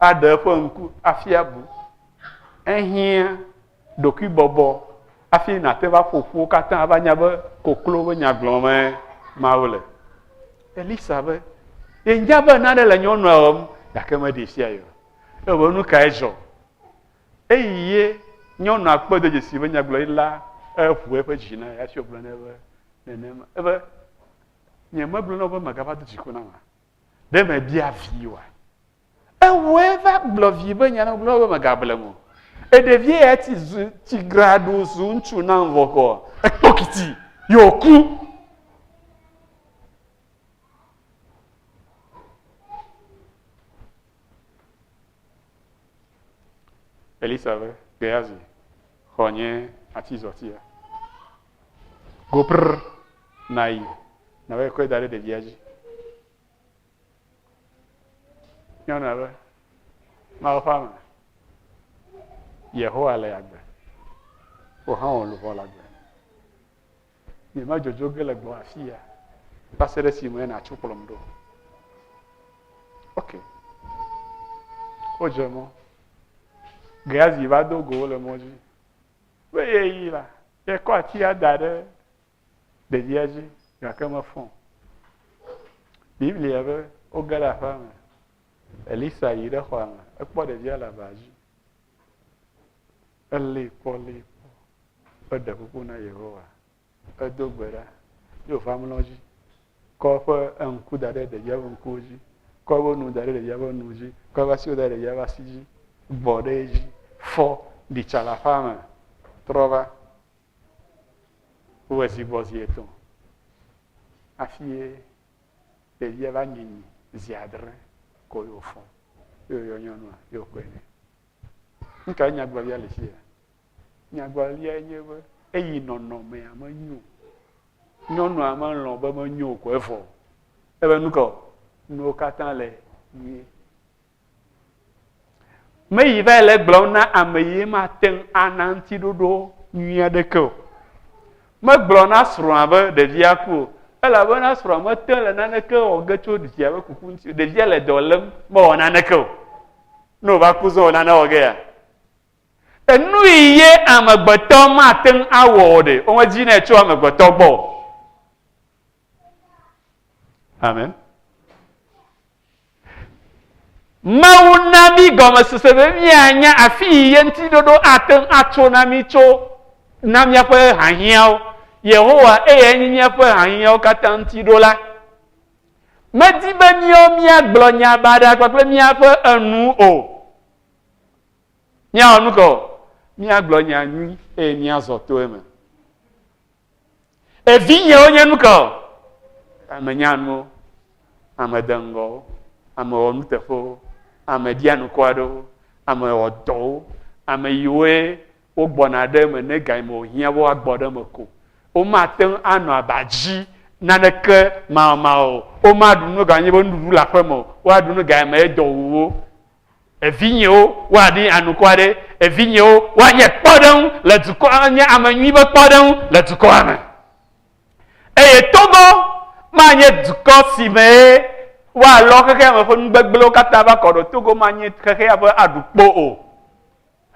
aɖe eƒe ŋku hafi abu. Ehiã ɖokuibɔbɔ hafi nàte va ƒo ƒuwo katã ava nya be koklo be nya gblɔmee Mawu le. Elisa be, Yenya be nane le nyɔnua wɔm, gake meɖee fia ye o. Evɔ nu kae dzɔ? Eyi ye nyɔnua kpɔe do dzesii be nyagblɔɖila eʋu eƒe dzi na ye hafi wògblɔ nɛ be nenema. Ebe, Nyemegblɔ na wò be mègava do dziku nam a? ɖe mebia vi oa? Ewɔe va gblɔ vi be nya na gblɔ be megablem o. Eɖevie ya ti zu ti graɖu zu ŋutsu na ŋvɔkɔ. Ekpɔ kiti yɔ ku. Elisa be Gehazi xɔ nye atizɔtia. Gopr nayi nava yi kɔe da ɖe ɖevia dzi. Nyɔnu abe mawo ƒe ame. Yehowa le agbe. Wò hã wò luʋɔ le agbe. Nye ma dzodzo ge le gbɔ afi ya. Va se ɖe si me nàtso kplɔm ɖo. Ok. Wodze mɔ. Geazi va do go wo le mɔ dzi. Be yeyi la, yekɔ atia da ɖe ɖevia dzi gake mefɔ. Biblia be woge ɖe aƒea me. Elisa yi ɖe xɔa me, ekpɔ ɖevia le aba dzi. Elée kpɔ, lée kpɔ, eɖe kuku na Yehowa edo gbe ɖa ye wòva mlɔ edzi, kɔ eƒe eŋku da ɖe ɖevia ƒe ŋkuwo dzi, kɔ eƒe nu da ɖe ɖevia ƒe nuwo dzi, kɔ eƒe asiwo da ɖe ɖevia ƒe asi dzi, bɔ ɖe edzi, fɔ, ɖi tsa le aƒea me, trɔ va. Wowɔe zi gbɔ zi etɔ̃ hafi ye ɖevia va nye nyi zi adre ko ye wòfɔ ye wòyɔ nyɔnua ye wòkɔe nɛ. Nu kae nyagblɔɖia le fi ya? Nyagblɔɖiae nye be eyi nɔnɔmea menyo. Nyɔnua melɔ̃ be menyo o ko evɔ. Ebe nu kaɔ? Nuwo katã le nyuie. Meyi va le gblɔm na ame ye mate ŋu ana ŋutiɖoɖo nyui aɖeke o. Megblɔ na srɔ̃a be ɖevia ku o. Elabena srɔ̃a mete ŋu le naneke wɔ ge tso via ƒe kuku ŋuti o. Ɖevia le dɔ lém mewɔ naneke o. Ne wòva ku zɔ o, nane wɔ ge ya? Enui ye amegbetɔ mate ŋu awɔ o ɖe? Womedi nɛ tso amegbetɔ gbɔ o. Amen. Mawu na mí gɔmesese be míanya afi yi ye ŋuti ɖoɖo ate ŋu atso na mí tso na míaƒe hahiãwo. Yehowa eyae nye míaƒe hahiãwo katã ŋuti ɖola. Medi be míawo míagblɔ nya baɖa kpakple míaƒe enu o. Míawɔ nu ka o? Míagblɔ nya nyui eye míazɔ to eme. Evinyewo nye nu ka o? Ame nyanuwo, ame deŋgɔwo, ame wɔ nuteƒewo, ame ɖia nukɔ aɖewo, ame wɔ dɔwo, ame yiwoe wogbɔna ɖe eme ne gayime wòhiã be woagbɔ ɖe eme ko. Womate ŋu anɔ aba dzi naneke mawɔmawɔ o. Womaɖu nu ganye be nuɖuɖu le aƒeme o. Woaɖu nu gayime edɔ wu wo. Evinyewo, woaɖi anukɔ aɖe. Evinyewo, woanye kpɔɖeŋu le dukɔ, anye ame nyui be kpɔɖeŋu le dukɔa me. Eye Togo manye dukɔ si me ye woalɔ xexea me ƒe nu gbegblẽwo katã va kɔ ɖo. Togo manye xexea ƒe aɖukpo o.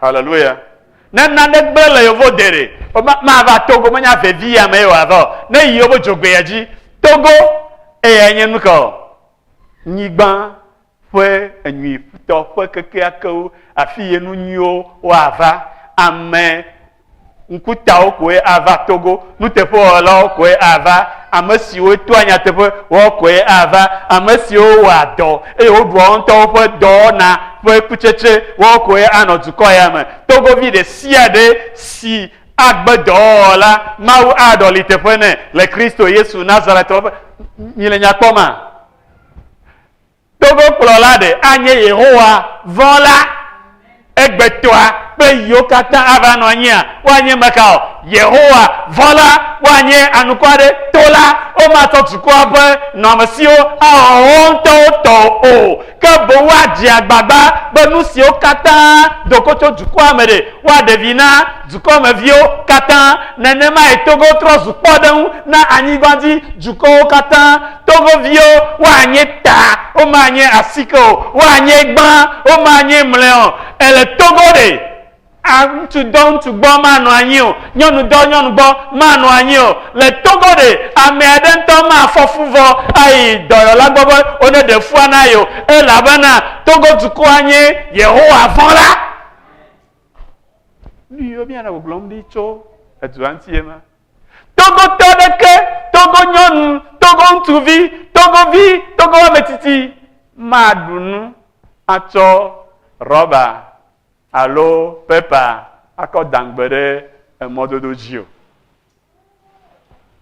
Hallelujah. Ne nane gblẽ le yevo dere, mava Togo menya vevi ya me yewa va o. Ne yi yevo dzogbe ya dzi, Togo eya nye nu ka o? Nyigba ƒe enyuitɔ ƒe kekeakewo afi ye nu nyuiwo wa va. Ame Ŋkutawo koe ava Togo, nuteƒewɔlawo koe ava, ame siwo toa nyateƒe wɔ koe ava, ame siwo wɔa dɔ eye woɖua wo ŋutɔwo ƒe dɔwɔna ƒe kutsetse wɔ koe anɔ dukɔ ya me. Togovi ɖe sia ɖe si agbe dɔwɔwɔ la, Mawu aɖɔli teƒe nɛ le Kristo Yesu Nazaretɔ ƒe. Mile nya kpɔma? Togo kplɔla ɖe anye Yehowa vɔ̃la, egbetɔa kple yiwo katã ava nɔ anyia? Woanye mekawo? Yehowa vɔ̃la. Woanye anukɔ aɖe tola. Womatsɔ dukɔa ƒe nɔamesiwo awɔ wo ŋutɔwo tɔ o, ke boŋ woadze agbagba be nu siwo katã do go tso dukɔa me ɖe, woaɖe vi na dukɔmeviwo katã. Nenemae Togo trɔ zu kpɔɖeŋu na anyigbadzidukɔwo katã. to veviwo, woanye ta, womanye asike o, woanye gbã, womanye mlɛ o, ele togo ɖe. A, ŋutsu dɔ ŋutsu gbɔ manɔ anyi o, nyɔnu dɔ nyɔnu gbɔ manɔ anyi o, le togo ɖe. Ame aɖe ŋutɔ mafɔ fu vɔ ayi dɔyɔla gbɔ be woneɖe fua na ye o, elabena Togo dukɔa nye Yehowa vɔ̃la. Nu yiwo míanɔ gbɔgblɔm ɖi tso edua ŋuti ye ma. Togotɔ aɖeke, Togo nyɔnu, Togo ŋutsuvi, Togo vi, Togo ame tsitsi maɖu nu atsɔ rɔba alo pepa akɔ dangbe ɖe emɔdodo dzi o.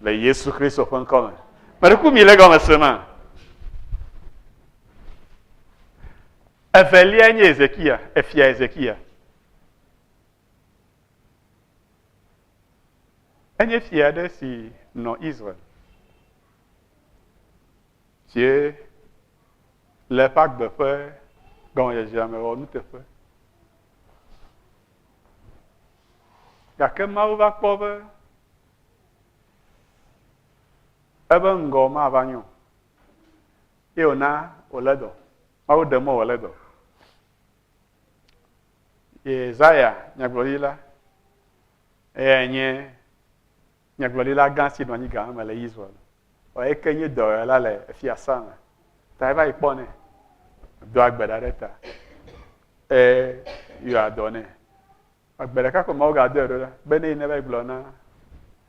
Le Yesu Kristo ƒe ŋkɔ me. Meɖeku mi le gɔme se ma. Evelia nye Ezekia, efia Ezekia. Enye fia aɖe si nɔ Israel si le eƒe agbe ƒe gɔmedzedzea me wɔ nuteƒe. Gake Mawu va kpɔ be ebe ŋgɔ mava nyo ye wòna wòlé dɔ. Mawu ɖe mɔ wòlé dɔ. Yesaya nyagblɔɖila, eyae nye nyagblɔɖila gã si nɔ anyi gama me le Israel. Eyae ke nye dɔwɔla le fiasã me. Ta eva yi kpɔ nɛ. Do agbe ɖa ɖe ta. Ee, yɔ adɔ nɛ. Agbe ɖeka ko Mawu gadɔe ɖo ɖa be ne yi ne va yi gblɔ na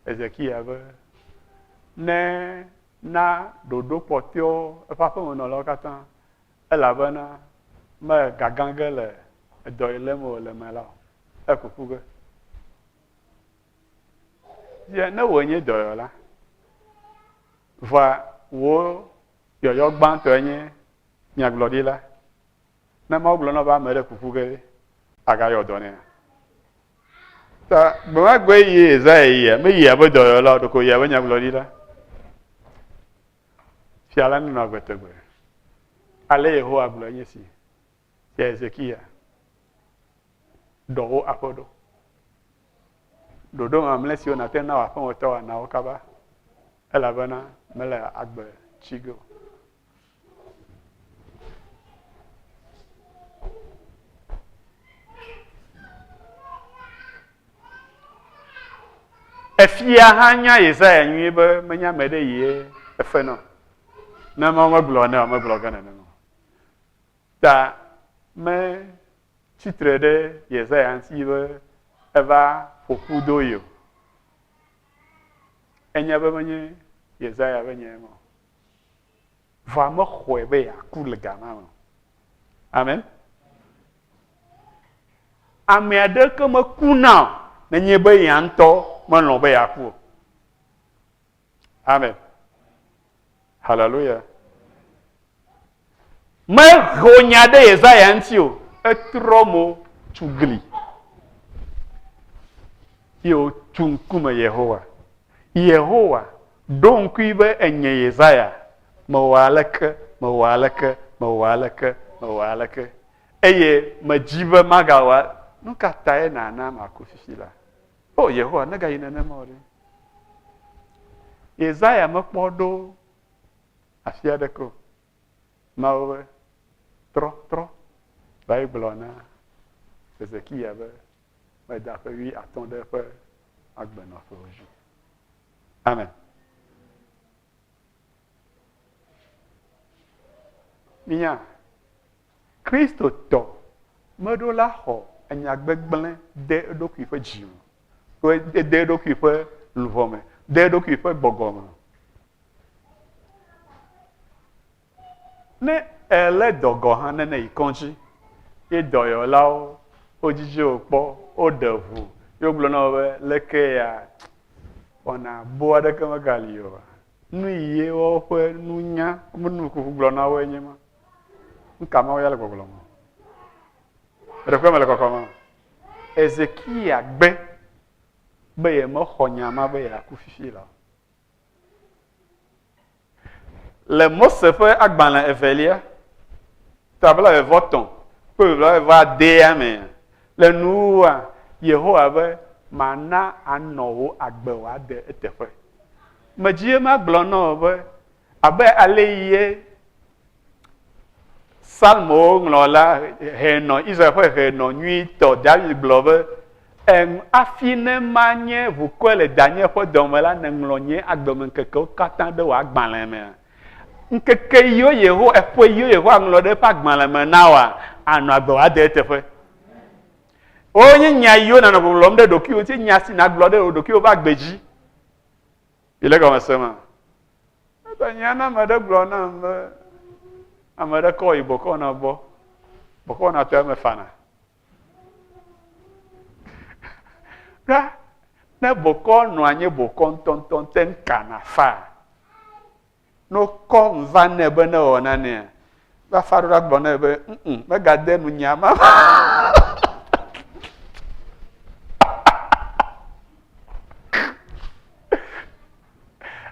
Ezekiel be ne na ɖoɖo kpɔtɔewo eƒe aƒemenɔlawo katã elabena megagã ge le edɔ yi lém wòle me la o. Ekuku ge. Ye ne wòe nye dɔyɔla, vɔa wò yɔyɔ gbãtɔe nye nyagblɔɖila. Ne Mawu gblɔ na be ame ɖe kuku ge ɖe, àgayɔ dɔ nɛa? Ta gbe ma gbe yi Yesaya yia, meyia be dɔyɔla o, ɖeko yia be nyagblɔɖila. Fia la nunɔ agbe tegbee. Ale Yehowa gblɔe nye si, Fia Hezekiya, ɖɔ wò aƒe ɖo. Ɖoɖo mamlɛ siwo nàte ŋu na wò aƒemetɔ wɔ na wo kaba, elabena mele agbe tsi ge o. Efia hã nya Yesaya nyuie be menye ame ɖe ye efe nɔ. Ne Mawu megblɔ nɛ o, megblɔ ge nenema o. Ta metsi tre ɖe Yesaya ŋuti be eva ƒo ƒu do ye o. Enya be menye Yesaya ƒe nya ye ma o. vɔa mexɔe be yeaku le ga ma me o. Amen. Ame aɖeke mekuna o nenye be ya ŋutɔ melɔ̃ be yeaku o. Amen. Haleluya. Meho nya ɖe Yesaya ŋuti o. Etrɔ mo tu gli. Ye wotu ŋkume Yehowa. Yehowa Ɖo ŋkui be enye Yesaya. Mewɔ aleke, mewɔ aleke, mewɔ aleke, mewɔ aleke, eye medzi be magawɔ. Nu ka tae nàna maku fifi la? O Yehowa, megayi nenema o ɖe! Yesaya mekpɔ ɖo afi aɖeke o. Mawu be, trɔ, trɔ, va yi gblɔ na Hezekiya be meda ƒe wuiatɔ̃ ɖe eƒe agbenɔƒewo dzi. Amen. Minya, Kristotɔ meɖo la xɔ enya gbegblẽ de eɖokui ƒe dzi me, to ede eɖokui ƒe luʋɔ me, de eɖokui ƒe gbɔgbɔ me. Ne èlé dɔ gɔ̃ hã, ne nèyi kɔdzi ye dɔyɔlawo wodzidzi wò kpɔ, woɖe ŋu ye wogblɔ na wò be, Leke ya? Wɔna boo aɖeke megali oa? Nu ye woƒe nunya, woƒe nukuku gblɔ na woe nye ema. Nu ka Mawu ya le gbɔgblɔm o? Ɖeko mele kɔkɔm o. Hezekia gbe be yemexɔ nya ma be yeaku fifi la o. Le Mose ƒe agbalẽ evelia, ta blaeve-vɔ-tɔ̃ kple blaeve-vɔ-adea me le nuwua, Yehowa be, Mana anɔ wò agbe wòade eteƒe. Medzi ye magblɔ na wò be, Abe ale ye Psalmowo ŋlɔla hɛnɔ Israel ƒe hɛnɔ nyuitɔ David gblɔ be, Em, afi ne manye ʋukɔe le danye ƒe dɔ me la, nèŋlɔ nye agbemeŋkekewo katã ɖe wò agbalẽ me. Ŋkeke yiwo Yehowa, eƒe yiwo Yehowa ŋlɔ ɖe eƒe agbalẽ me na wòa, ànɔ agbe wòade eteƒe. Wonye nya yiwo nànɔ ŋɔŋlɔm ɖe ɖokuiwò ŋuti, nya si nàgblɔ ɖe wò ɖokuiwò ƒe agbe dzi. Mile egɔme sem a? Eƒe nya na ame ɖe gblɔ nam be ame ɖe kɔ yi bɔkɔna gbɔ. Bɔkɔna tɔ eme fana. Ɖa, ne bɔkɔ nɔ anyi bɔkɔ ŋutɔŋutɔ te ŋu kana faa, Ne wokɔ nu va nɛ be ne wɔ nanea, eƒe aɖo la gblɔ nɛ be, ŋ megade nu nya ma.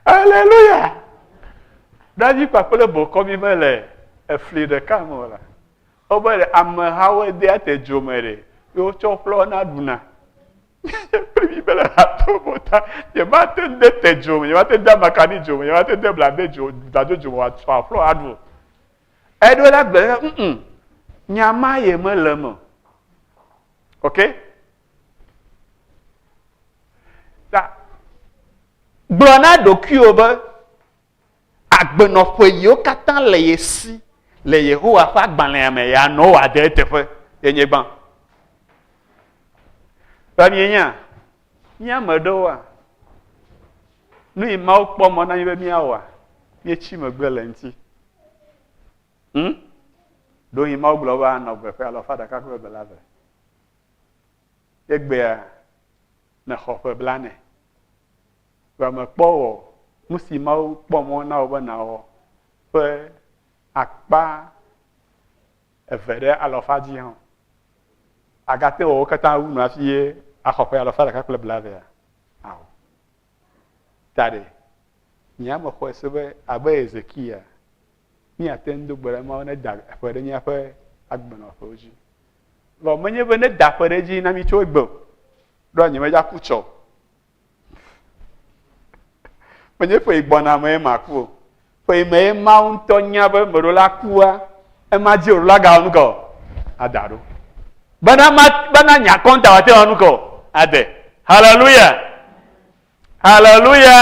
Aleluya! Davi kpakple bokɔ mi mele efli ɖeka me o la. Wobe amehawo de ate dzo me ɖe, ye wotsɔ ƒlɔ na ɖuna. Kpli mi be le hato bɔ ta, nyemate ŋu de te dzo me, nyemate ŋu de amakani dzo me, nyemate ŋu de blabe dzo, bladzo dzo me wòatsɔ aƒlɔ aɖu o. Eɖo la gbe la, mm, nya ma ye mele eme o. Ok? Ta, gblɔ na ɖokuiwò be, agbenɔƒe yiwo katã le ye si le Yehowa ƒe agbalẽa me ya nɔ wòade eteƒe ye nye gbã. Ɖe mienya, mía ame aɖewoa, nu yi Mawu kpɔ mɔ na mi be míawɔa, míetsi megbe le eŋuti. Hm? Ɖo yi Mawu gblɔ be anɔ gbe ƒe alɔfa ɖeka kple eve la ve. Egbea nexɔ ƒe blane. Vɔ mèkpɔ o. Nu si Mawu kpɔ mɔ na wò be nàwɔ ƒe akpa eve ɖe alafa dzi hã o. Àgate ŋu awɔ wo katã wu nu hafi axɔ ƒe alafa ɖeka kple blaevea? Ao. Ta ɖe, nye ame xɔe se be abe Hezekiya, míate ŋu do gbe ɖa Mawu neda eƒe ɖe míaƒe agbenɔƒewo dzi. Vɔ menye be neda eƒe ɖe edzi na mí tso egbe o. Ɖoa nyemedze aku tsɔ o. Menye ƒe yi gbɔna mee maku o. Ƒe yi mee Mawu ŋutɔ nya be meɖo la kua, ema dzi o la gawɔ nu kɔ ada ɖo. Bena ma bena nya kɔnta wate wɔ nu kɔ ade. Haleluya. Haleluya.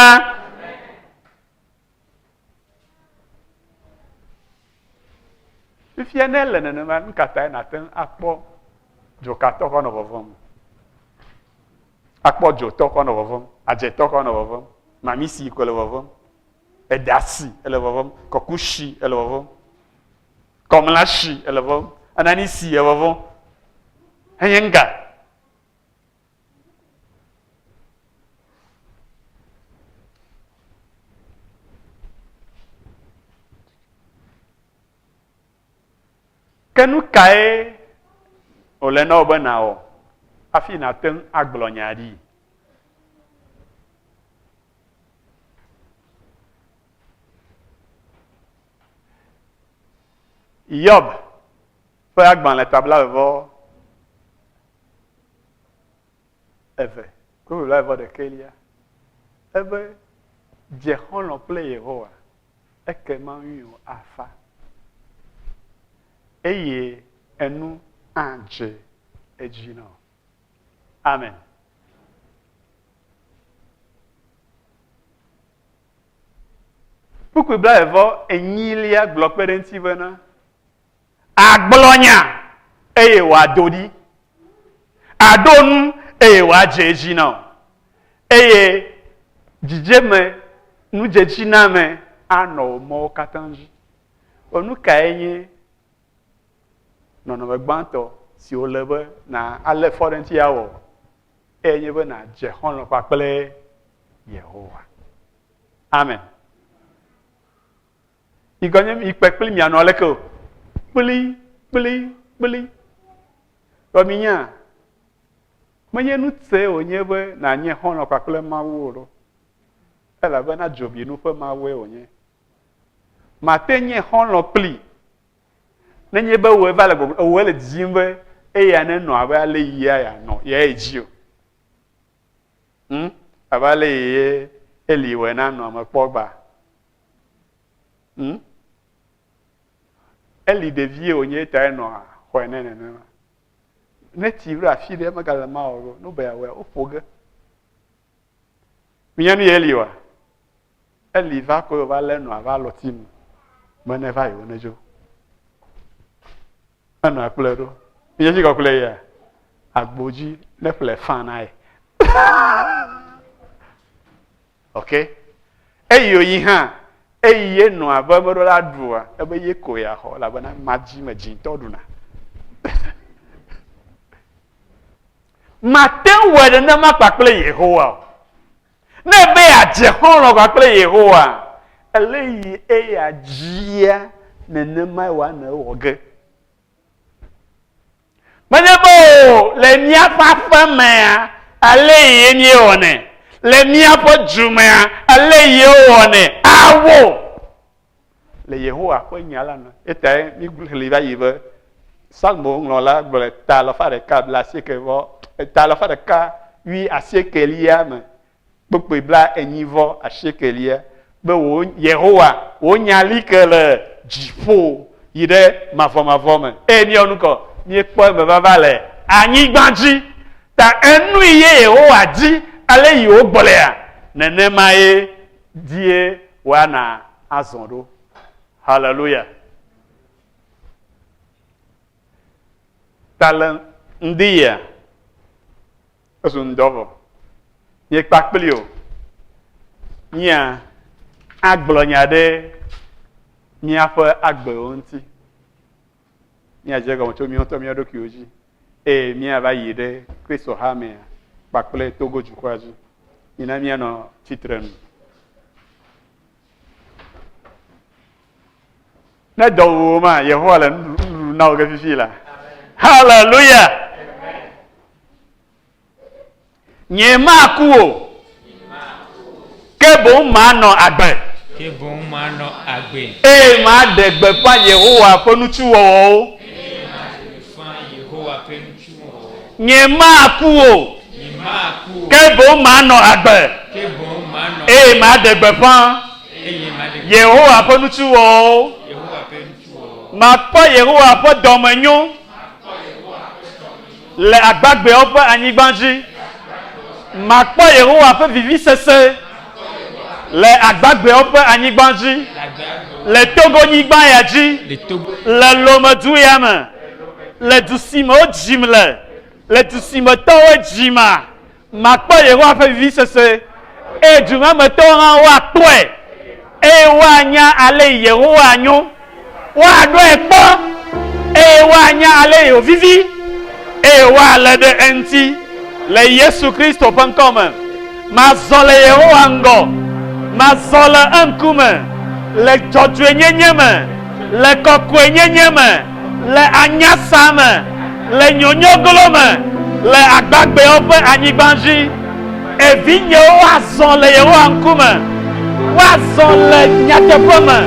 Fifia ne ele nenema nu ka tae nàte ŋu akpɔ dzokatɔ kɔ nɔ vɔvɔm? Akpɔ dzotɔ kɔ nɔ vɔvɔm, adzetɔ kɔ nɔ vɔvɔm, mamisi ko le vɔvɔm, edasi ele vɔvɔm, kɔkusi ele vɔvɔm, kɔmlasi ele vɔvɔm, ananisi ele vɔvɔm. Enye ŋga. ke nu kae wòle na wò be nàwɔ hafi nàte ŋu agblɔ nya ɖi yɔb ƒe agbalẽ ta blaeve vɔ eve kple blaeve vɔ ɖekɛlia ebe dze xɔlɔ kple Yehowa ekema ŋuiwò afa eye enu adze edzi nɔ. Amen. Kpukpui blaevɔ enyilia gblɔ kpe ɖe ŋuti bena Agblɔ nya, eye wòado ɖi. Aɖo nu, eye wòadze edzi na wò. Eye dzidzeme, nudzedziname anɔ wò mɔwo katã dzi. Ɔ, nu kae nye nɔnɔme gbãtɔ si wòle be nàlé fɔ ɖe eŋuti awɔ? Eyae nye be nàdze xɔlɔ̃ kpakple Yehowa. Amen. Miganye mikpe kpli mianɔ aleke o. Kpli, kpli, kpli. Vɔ minya, menye nu te wònye be nànye xɔlɔ̃ kpakple Mawu o ɖo. Elabena dzobinu ƒe Mawue wònye. Màte nye xɔlɔ̃ kpli nenye be wòe va le gbɔgblɔ, ewòe le didim be eya nenɔ abe ale yia yeanɔ, yeaye dzi o. Hm? Abe ale yie Eli wɔe na nɔa mekpɔ gbaa. Hm? Eli ɖevie wònye ta enɔ xɔe nɛ nenema. Ne tsi ɖo afi ɖe megale ma o, nu be yeawɔe, woƒo ge. Minya nu yi Eli wa? Eli va kɔe wòva lé nɔa va alɔti nu be ne va yewo nedzo. Enɔa kplɔe ɖo. Minya tsi kɔkplɔe yia? Agbo dzi ne ƒle fã na ye. ok eyi oyi hã eyi ye nɔa be meɖo la ɖua ebe ye ko ya xɔ elabena madzi me dzitɔ ɖuna mate ŋu wɔ nenema kpakple yehowa o ne be yeadze xɔlɔ kpakple yehowa ele yi eya dzia nenema wa ne wɔ ge Menye be o, le míaƒe aƒe mea, ale ye míewɔnɛ, le míaƒe du mea, ale ye wowɔnɛ. Ao! Le Yehowa ƒe Nya la me. Etae míexlẽe va yi be Psalmoŋlɔla gblɔe ta alafa ɖeka blaasieke vɔ, ta alafa ɖeka wui asiekelia me kpukpui blaenyi vɔ asiekɛlia be wò Yehowa, wò nya li ke le dziƒo yi ɖe mavɔmavɔ me, eye míeyɔ nu kɔ, míekpɔ eme vava le anyigba dzi. Ta enui ye Yehowa di ale yi wògblɔea, nenemae die wòana azɔ ɖo. Haleluya! Ta le ŋdi yea? Ezu ŋdɔ vɔ. Nye kpakpli o. Mía agblɔ nya ɖe míaƒe agbewo ŋuti. Mía dze gɔme tso mía ŋutɔ mía ɖokuiwo dzi. Eye mía va yi ɖe Kristo ha mea kpakple Togo dukɔa dzi. Mina mía nɔ tsitre nu. Ne dɔ wu wò ma, Yehowa le nuɖuɖu na wò ge fifi la. Haleluya! Nye maku o, ke boŋ manɔ agbe. Ke boŋ manɔ agbe. Eye maɖe gbeƒã Yehowa ƒe nutsiwɔwɔwo. Nyemaku o, ke boŋ manɔ agbe, eye maɖe gbeƒã Yehowa ƒe nutsiwɔwɔwo. Makpɔ Yehowa ƒe dɔmenyo le agbagbeawo ƒe anyigba dzi. Makpɔ Yehowa ƒe vivisese. Le agbagbeawo ƒe anyigba dzi. Le Togonyigba ya dzi. Le Lomedu ya me. Le du si me wodzim le. Le du si me tɔwo dzima. Makpɔ Yehowa ƒe vivisese. Eye du ma me tɔwo hã woakpɔe. Eye woanya ale Yehowa nyo. Woaɖɔe kpɔ, eye woanya ale yi wòvivi, eye woalé ɖe eŋuti, le Yesu Kristo ƒe ŋkɔ me. Mazɔ le Yehowa ŋgɔ, mazɔ le eŋkume, le dzɔdzɔenyenye me, le kɔkɔenyenye me, le anyasa me, le nyonyoglo me, le agbagbɛwo ƒe anyigba dzi. E Vinyewo, woazɔ le Yehowa ŋkume, woazɔ le nyateƒe me,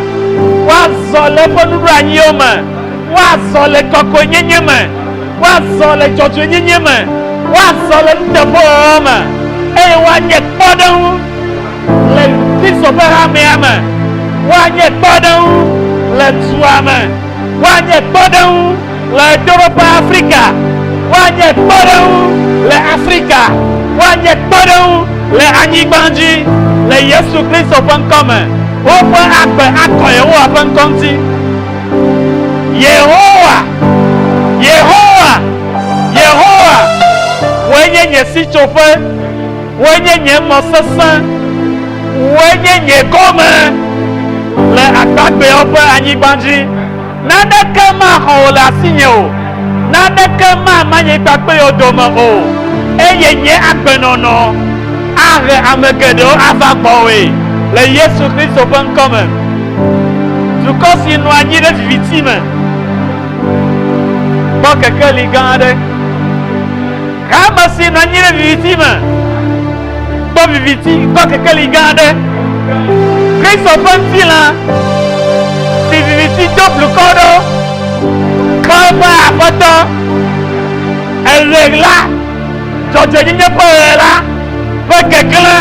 woazɔ le eƒe nuɖoanyiwo me, woazɔ le kɔkɔenyenye me, woazɔ le dzɔdzɔenyenye me, woazɔ le nuteƒewɔwɔ me, eye woanye kpɔɖeŋu le Kristo ƒe hamea me, woanye kpɔɖeŋu le dua me, woanye kpɔɖeŋu Ɣedzeƒe Afrika, Woanye kpɔɖeŋu le Afrika, Woanye kpɔɖeŋu le anyigba dzi, Le Yesu Kristo ƒe ŋkɔ me. Woƒe agbe akɔ Yehowa ƒe ŋkɔ ŋuti. Yehowa, Yehowa, Yehowa, Wòe nye nye sitsoƒe, Wòe nye nye mɔ sesẽ, Wòe nye nye gome le agbagbeawo ƒe anyigba dzi. Naneke maxɔ wò le asinye o, naneke mamã nye kpakpɛwo dome o, eye nye agbenɔnɔ ahe ame geɖewo ava gbɔwòe le Yesu Kristo ƒe ŋkɔ me. Dukɔ si nɔ anyi ɖe viviti me kpɔ kekeli gã aɖe. Hame si nɔ anyi ɖe viviti me. Kpɔ viviti kɔ kekeli gã aɖe. Kristo ƒe ŋutilã, si viviti do blukɔ ɖo, kpɔ eƒe Aƒetɔ. Eɣeɣla, dzɔdzɔenyenye ƒe ɣe la, ƒe keklẽ,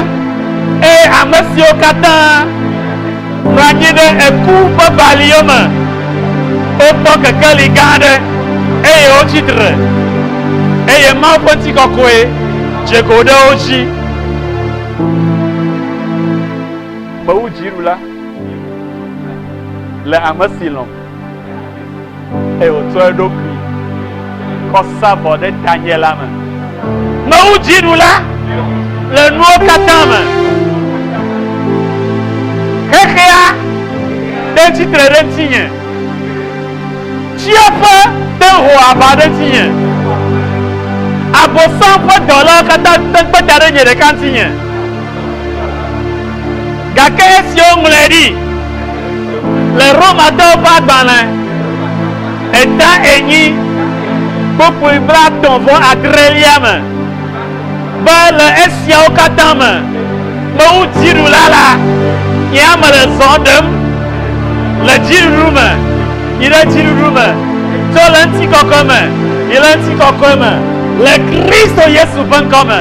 eye ame siwo katã. Nɔ anyi ɖe eku ƒe bali yome. Wokpɔ kekeli gã aɖe, eye wotsi tre, eye Mawu ƒe ŋutikɔkɔe dze go ɖe wo dzi. Fewudziɖula le ame si lɔ̃m. eye wòtsɔ eɖokui kɔ sa vɔ ɖe tanye la me. Mewu dzinu la le nuwo katã me. Xexea ɖe tsitre ɖe ŋutinye. Tsiaƒe de ho aʋa ɖe ŋutinye. Abosam ƒe dɔlawo katã te kpe da ɖe nye ɖeka ŋutinye. Gake esi woŋlɔe ɖi le Romatɔwo ƒe agbalẽ eta enyi kpukpui blaetɔ̃ vɔ adrelia me be le esiawo katã me mewu dziɖula la, nye ame le zɔ ɖem le dziɖuɖu me yi ɖe dziɖuɖu me, tso le ŋutikɔkɔe me yi le ŋutikɔkɔe me le Kristo Yesu ƒe ŋkɔ me.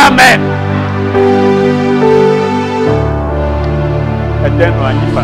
Amen. Ede nɔ anyi fa.